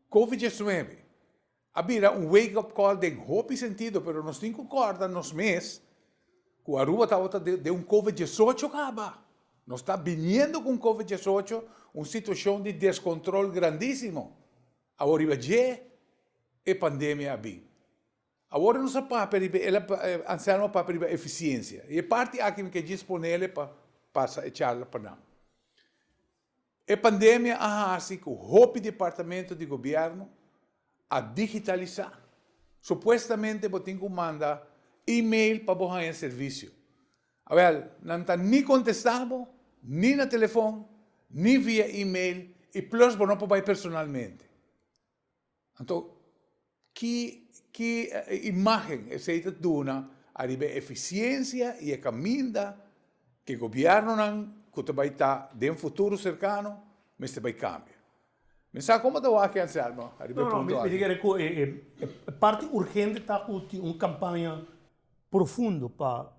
Covid diesnuebe a bira un wake up call den hopi sentido pero nos tin ku kòrda nos mes ku Aruba tabata den un Covid diesocho kaba. Nos ta biniendo ku un Covid diesocho, un situashon di deskontrol grandisimo. Awor riba dje e pandemia a bin. Awor nos a papia riba el, anselmo a papia riba eficiencia. Y e parti aki mi ke djis ponele pa pasa e charla pa nan. E pandemia a haci cu hopi departamento di gobierno a digitalisa. Supuestamente bo tin cu manda email pa bo haya servicio. Awel, nan ta ni contesta bo, ni na telefon, ni via email y plus bo no por bay personalmente. Anto, ki ki imágen esei ta duna ariba e efisiensia i e kaminda ku e gobièrnunan ku ta bai ta den futuro serkano mester bai kambia? Mi sa komo ta wak, Anselmo, ariba e punto aki. Mi ta kere ku e parti urgente ta ku tin un kampaña profundo pa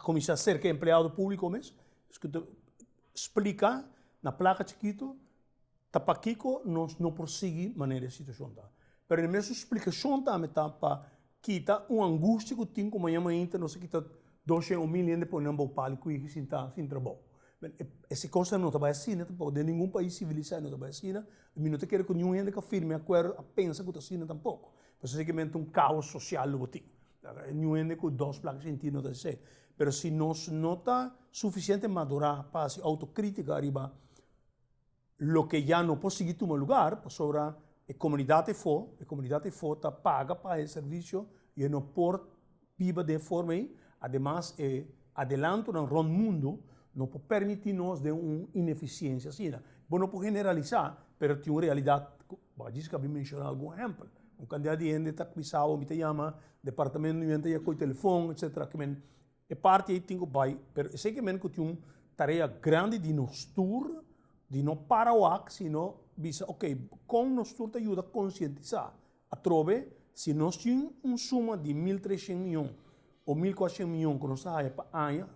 kuminsá serka e empleado públiko mes, ku ta splika na plaka chikitu, Ta pakico nos no por sigui manera e situacion ta. Pero e mesun splicacion tambe ta pa kita un angustia cu tin cu maña mainta nos a kita dos shen o mil hende pone nan bou pali cu higi sin ta sin trabou. Esey cosnan no ta bay asina tampoco. Den ningun pais civilisay no ta bay asina. Mi no ta kere cu ningun hende cu a firme acuerdo a pensa cu ta asina tampoco. Pasobra esey kimente un caos social lo bo tin. Ningun hende cu dos placa shen tin no ta hasi esey. Pero si nos no ta suficiente madura pa hasi autocritica ariba. Loke ya no por sigui tuma lugar pasobra e komunidat efo, e komunidat efo ta paga pa e servisio y e no por biba den e forma ei. Ademas e adelantonan rònt mundu no por permití nos den un inefisiensia asina. Bo no por generalisá pero tin un realidat ku Bagisca a bin menshoná algun ehèmpel. Un kantidat di hende ta kuminsaba, mi ta yama departamento, mi ta yama koy telefòn, etsetera. E parti ei tin ku bai, pero esei ku men ku tin un tarea grandi di nos tur, di no para wak sino bisa ok kon nos tur ta yuda konsientisá atrobe si nos tin un suma di mil treshen miyon o mil kuatshen miyon ku nos ta haya pa aña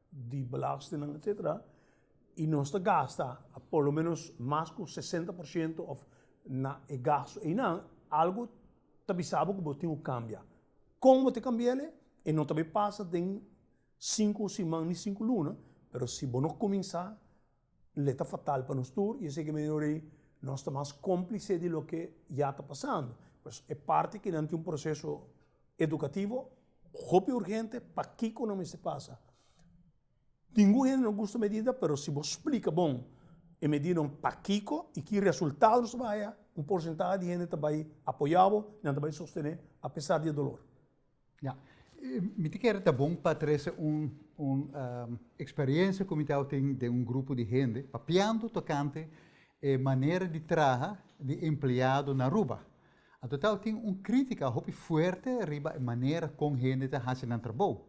di belastingnan etsetera i nos ta gasta por lo menos mas ku sesenta por shento òf na e gastu einan algu ta bisa bo ku bo tin ku kambia. Kon bo ta kambia el e? E no ta bay pasa den sinku siman ni sinku luna, pero si bo no kuminsá el ta fatal pa nos tur, i esei ke men rei nos ta mas komplise di loke ya ta pasando. Pues e parti ke nan tin un proseso edukativo hopi urgente pakiko nan mester pasa. Ningun hende no gusta medida pero si bo splika bon e medidanan pakiko i ki resultado nos ta bai haya un porsentahe di hende ta bai apoya bo i nan ta bai sostené apesar di e dolor. Ya, mi ta kere ta bon pa trese un un eksperensia ku mi a tau tin den un grupo di hende papiando tokante e manera di traha di empleado na Aruba. Anto a tau tin un krítika hopi fuerte riba e manera kon hende ta hasi nan trabou.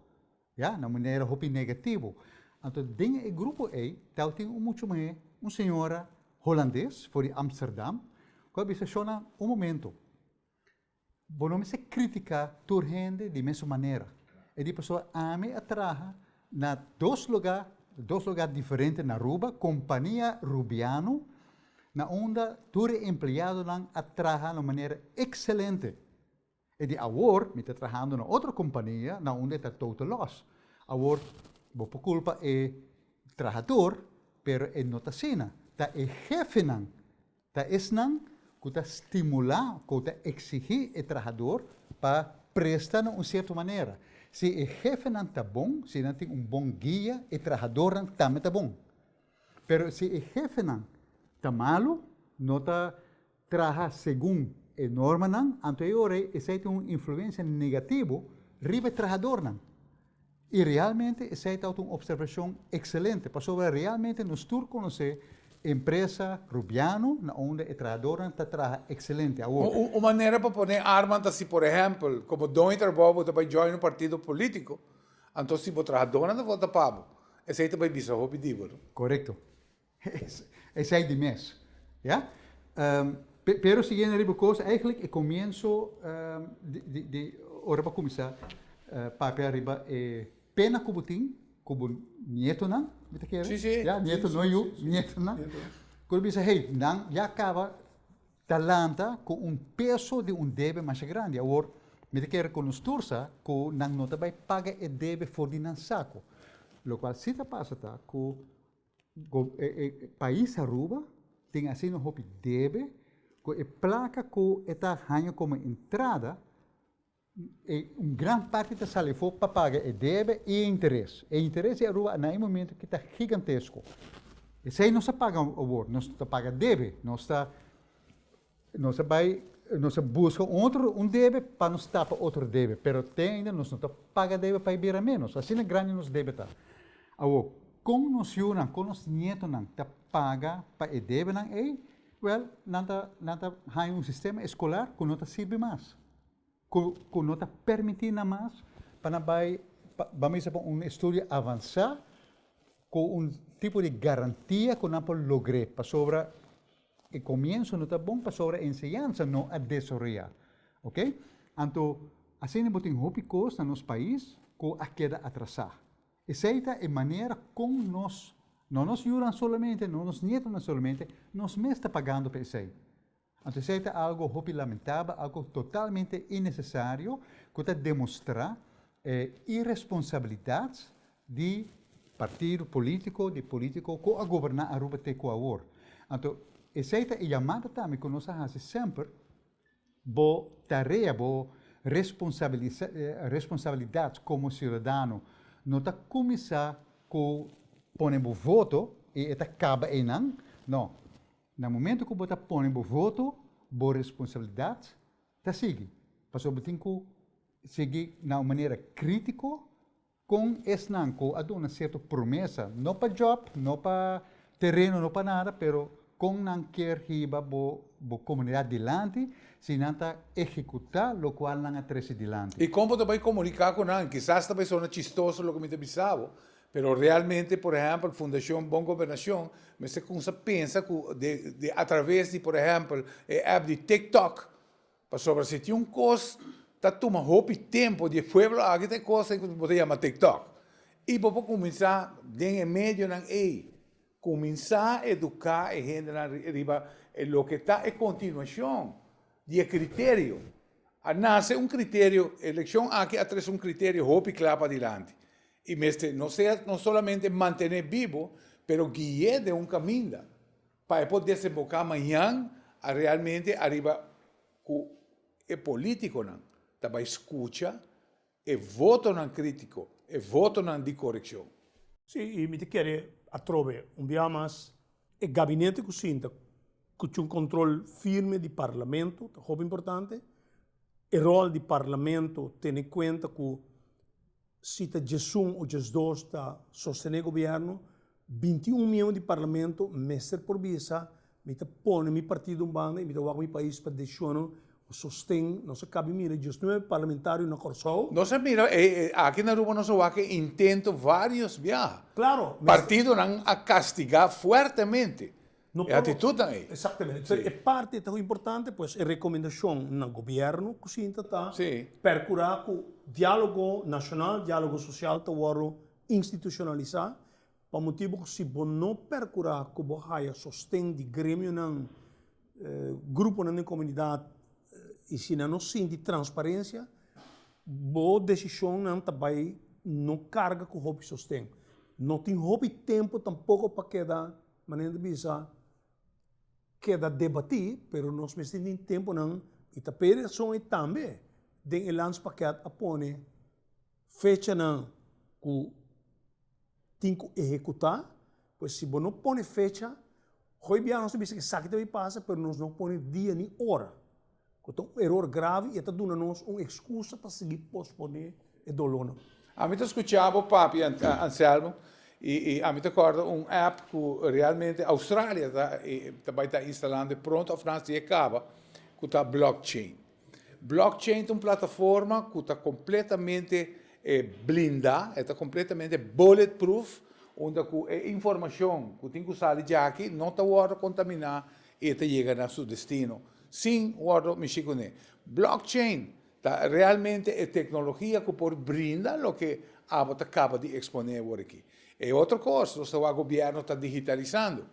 Ya, na manera hopi negativo. Anto den e grupo ei tel tin un mucho muhé, un señora Holandes for di Amsterdam, cu a bisa, Shona, un momento, bo no mester critica tur hende di mesun manera. E di paso ami a traha na dos lugar, dos lugar diferente na Aruba, compania Rubiano, na unda tur e empleadonan a traha na un manera excelente. E di awor mi ta trahando na otro kompania na unda e ta total loss. Awor bo por kulpa e trahador, pero e no ta asina. Ta e hefenan, ta esnan ku ta stimulá ku ta eksigí e trahador pa presta na un sierto manera. Si e hefenan ta bon, si nan tin un bon guia, e trahadornan tambe ta bon. Pero si e hefenan ta malu, no ta traha segun e normanan, anto e ora ei esei tin un influensia negativo riba e trahadornan. I realmente esei tabata un opservashon ekselente, pasobra realmente nos tur konosé empresa Rubiano na unda e trahadornan ta traha ekselente awor. Un manera pa pone arman ta si por ehèmpel komo Doño ta robou bo ta bai join un partido polítiko, anto si bo trahadornan ta vota pa bo, esei ta bai bisa hopi di bo. Korekto. Esei di mes. Ya. Pe, pero siguiendo riba cos, eigenlijk e comienzo di, di, ora bo cuminsa papia riba e pena cu bo tin cu bo nietonan, mi ta kere? Si, si. Ya, nieto, no yu, nietonan. Cu bo bisa, hey, nan ya caba ta lanta cu un peso di un debe masha grandi, awor mi ta kere cu nos tur sa cu nan no ta bay paga e debe for di nan saco. Locual si ta pasa ta cu E pais Aruba tin asina hopi debe cu e placa cu e ta haya como entrada, un gran parti ta sali afo pa paga e debe y e interes. E interes di Aruba na e momento aki ta gigantesco. Esey nos ta paga awor, nos ta paga debe, nos ta. Nos a bai, nos a buska un otro un debe pa nos tapa otro debe, pero te ainda nos no ta paga debe pa e bira menos. Asina grandi nos debe ta. Awo, kon nos yunan, kon nos nietonan ta paga pa e debenan ei? Wèl, nan ta nan ta haña un sistema eskolar ku no ta sirbi mas. Ku no ta permití nan mas pa nan bai pa ba mester pa un estudio avansá ku un tipo di garantia ku nan por logr'é pasobra e komienso no ta bon pasobra e enseñansa no a desaroyá. Ok, anto asina bo tin hopi kos na nos pais ku a keda atrasá. Esei ta e manera kon nos, no nos yunan solamente, no nos nietonan solamente, nos mes ta pagando pa esei. Anto esei ta algo hopi lamentabel, algo totalmente innesesario ku ta demostrá e iresponsabilidat di partido polítiko, di polítiko ku a goberná Aruba te ku awor. Anto esei ta e yamada tambe ku nos a hasi semper, bo tarea, bo responsabilidat komo siudadano no ta kuminsá ku pone bo voto i e ta kaba einan, nò, Na momento cu bo ta pone bo voto, bo responsabilidad ta sigui, pasobra bo tin cu sigui na un manera critico con esnan cu a duna cierto promesa, no pa job, no pa tereno, no pa nada, pero con nan kier hiba bo comunidad dilanti si nan ta ehecuta locual nan a trece dilanti. Y con bo ta bay comunica cu nan? Kisas ta bay sona chistoso loke mi ta bisa bo, Pero realmente, por ehempel, Fundacion Bon Gobernacion mester cuminsa pensa cu di atraves di, por ehempel, e app di TikTok, pasobra si tin un cos ta tuma hopi tempo di e pueblo aki ta e cos ey cu bo ta yama TikTok y bo por cuminsa den e medionan ey Cuminsa educa e hendenan riba e loke ta e continuacion di e criterio. A nace un criterio, e eleccion aki a trece un criterio hopi cla padilanti y mester no sea no solamente mantene bibo pero guie den un caminda pa e por desemboca mañan a realmente ariba cu e politiconan ta bay scucha E votonan critico, e votonan di correccion. Si, y mi ta kere atrobe un biaha mas. E gabinete cu sinta cu cu un control firme di Parlamento ta hopi importante. E rol di Parlamento tene cuenta cu si ta djesun o djesdos ta sostene gobierno, Binti un miembro di Parlamento mester por bisa, Mi ta pone mi partido un banda y mi ta wak mi pais pa decisionan cu sosten. Nos a cabe mira diosnuebe parlamentario na Corsou. Nos a mira e, e, aki na Aruba nos a wak e intento varios biaha. Claro, mester. Partidonan a castiga fuertemente e actitudnan ey. Exactamente. Pero e parti ta importante pues e recomendacion na gobierno cu sinta ta percura cu dialogo nacional, dialogo social ta wordo. institucionalisá, pa motibu cu si bo no percurá cu bo haya sosten di gremionan, gruponan den comunidad y si nan no sinti transparencia, bo decisionnan ta bay no carga cu hopi sosten. No tin hopi tempo tampoco pa keda, manera nan ta bisa, keda debatí, pero nos mester tin temponan y ta p'e rason ei tambe den e landspaket a pone Fechanan ku tin ku ehekutá, pues si bo no pone fecha, goi biaha nos ta bisa ku esaki ta bin pasa pero nos no pone dia ni ora, ku ta un eror grave i e ta duna nos un ekskusa pa sigui posponé e dolónan. Ami ta skucha bo papi Anselmo i ami ta kòrda un app ku realmente Australia ta bai ta instalando e pronto òf naas di e kaba ku ta blockchain. Blockchain ta un plataforma cu ta completamente blinda, e ta completamente bulletproof, unda cu e informacion cu tin cu sali dje aki no ta wordo contamina y e ta yega na su destino sin wordo mishi cu ne. Blockchain ta realmente e tecnologia cu por brinda loke abo ta caba di expone awor aki. E otro cos, nos ta wak gobierno ta digitalisando.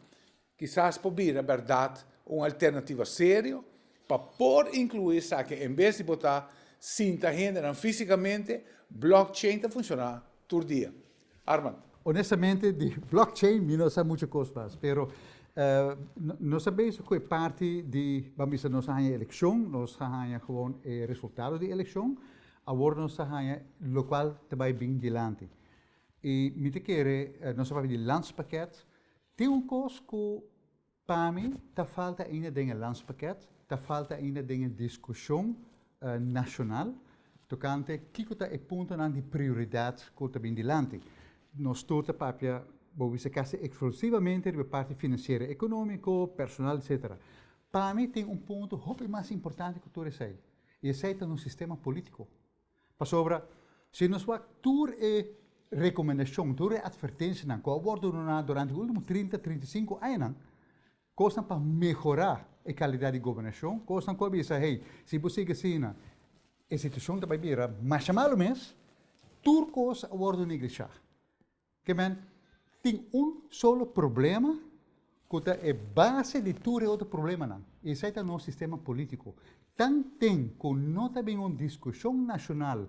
Kisas por bira bèrdat un alternativa serio pa por inkluí esaki en bes di bo ta sinta hendenan físikamente, blockchain ta funshoná tur dia. Armand. Honestamente di blockchain mi no sa muchu kos mas, pero nos a bes ku e parti di ban bisa nos a haña e elekshon, nos a haña gewoon e resultado di elekshon, awor nos ta haña lokual ta bai bin dilanti. I mi ta kere nos a papia di lanspakèt Tin un kos ku pa mi ta falta ainda den e Landspakket, ta falta ainda den e diskushon nashonal tokante kiko ta e puntonan di prioridat ku ta bin dilanti. Nos tur ta papia, bo bisa kasi ekslusivamente riba parti finansiero ekonómiko, personal etsetera. Pa mi tin un punto hopi mas importante ku tur esei, i esei ta nos sistema polítiko. Pasobra si nos wak tur e rekomendashon, tur e atvertenshanan ku a wòrdu duna durante e último trinta, trinta i sinku añanan, kosnan pa mehorá e kalidat di gobernashon, kosnan ku a bisa, hey, si bo sigui asina e situashon ta bai bira masha malu mes, tur kos a wòrdu neglishá. Ke men tin un solo problema ku ta e base di tur e otro problemanan, i esei ta nos sistema polítiko. Tan tin ku no ta bin un diskushon nashonal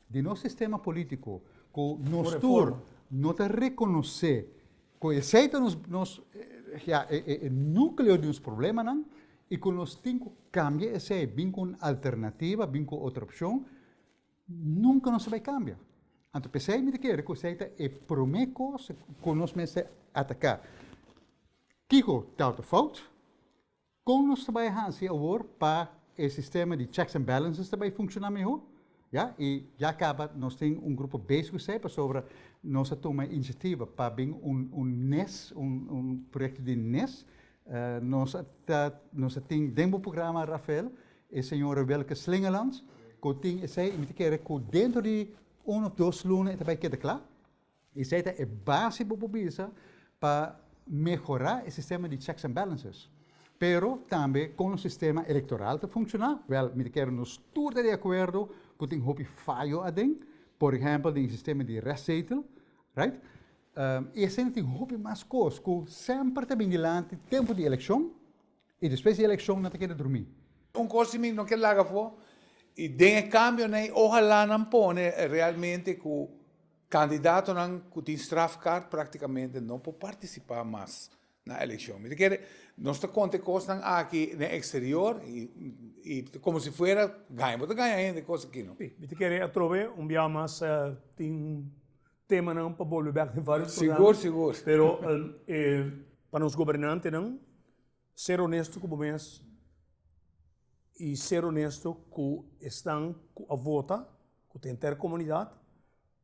di nos sistema polítiko ku nos tur no ta rekonosé ku esei ta nos nos ya e e e nukleo di nos problemanan i ku nos tin ku kambia esei, bin ku un alternativa, bin ku otro opshon. Nunca nos a bay cambia. Anto pesey mi ta kere cu esey ta e prome cos cu nos mester ataca. Kico ta ta fout? Con nos ta bay hansi awor pa e sistema di checks and balances ta bay funciona miho? Ya, y ya caba nos tin un grupo bezig cu esey pasobra nos a tuma e iniciativa pa bin un nes, un proyecto di nes. Nos a tin den bo programa Rafael E señora Wilke Slingelands ku tin esei, mi ta kere ku dentro di un òf dos luna e ta bai keda kla. Esei ta e base bo por bisa pa mehorá e sistema di checks and balances. Pero tambe kon nos sistema elektoral ta funshoná, wèl, mi ta kere nos tur ta di akuerdo ku tin hopi fayo aden, por ehèmpel den e sistema di rèstzetel, right? I asina tin hopi mas kos ku semper ta bini lanti tempu di elekshon. Y despues di eleccion nan ta keda drumi. Un cos di mi no kier laga afo y den e cambionan y ojalá nan pone realmente cu candidatonan cu tin strafkaart practicamente no por participa mas na eleccion. Mi ta kier nos ta conta e cosnan aki den exterior y como si fuera gaña. Bo ta gaña hende cos aki no. Si, mi ta kier atrobe un bia mas tin Temanan pa bolbe bek den vários programan. Sigur, sigur. Pero e. Pa nos gobernantenan, ser onesto ku bo mes i ser onesto ku esnan ku a vota, ku ta henter komunidat,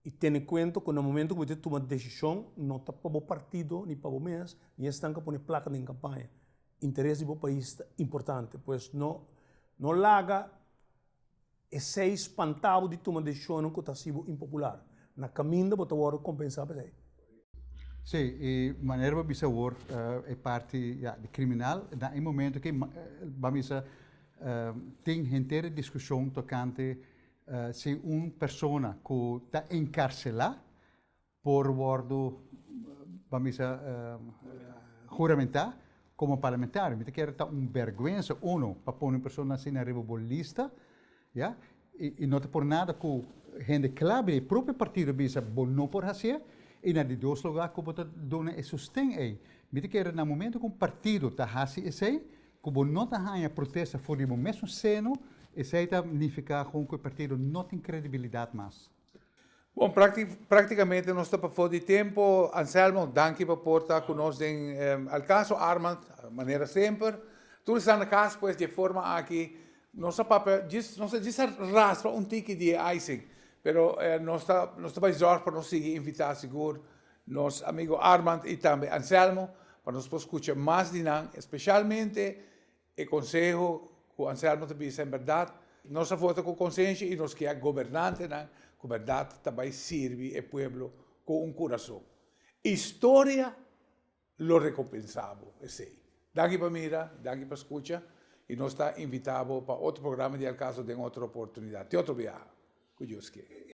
i tene kuenta ku na momentu ku bo ta tuma desishon no ta pa bo partido ni pa bo mes, ni esnan ku a pone plaka den kampaña. Interes di bo pais ta importante. Pues no, no laga. Esei spantá bo di tuma desishonnan ku ta hasi bo impopular. Na kaminda bo ta wòrdu kompensá pa esei. Sí, i manera bo bisa awor e parti ya di kriminal, na e momento ki ban bisa tin henter e diskushon tokante si un persona ku ta enkarselá, por wordo pa mi sa juramentá como parlamentario mi ta kere ta un bergwensa uno pa pone un persona asina riba bo lista ya y no ta por nada cu hende cla di e propio partido bisa bo no por hacié y na di dos lugar cu bo ta duna e sosten ey mi ta kere na momento cu un partido ta haci esey cu bo no ta haña protesta for di bo mesun seno esey ta nifica cu e partido no tin credibilidad mas. Bon, práktikamente nos ta pafó di tempu. Anselmo, danki pa por ta ku nos den El Caso. Armand, manera semper. Tur esnan na kas pues di e forma aki. Nos a papia djis, nos a djis a raspa un tiki di e icing, pero nos ta nos ta bai zòrg pa nos sigui invitá sigur nos amigu Armand i tambe Anselmo pa nos por skucha mas di nan, espeshalmente E konseho ku Anselmo ta bisa en bèrdat, nos a vota ku konsensha i nos kier gobernantenan ku bèrdat ta bai sirbi e pueblo ku un kurason. Historia lo rekompensá bo esei. Danki pa mira, danki pa skucha i nos ta invitá bo pa otro programa di El Caso den otro oportunidat. Te otro biaha, ku Dios kier.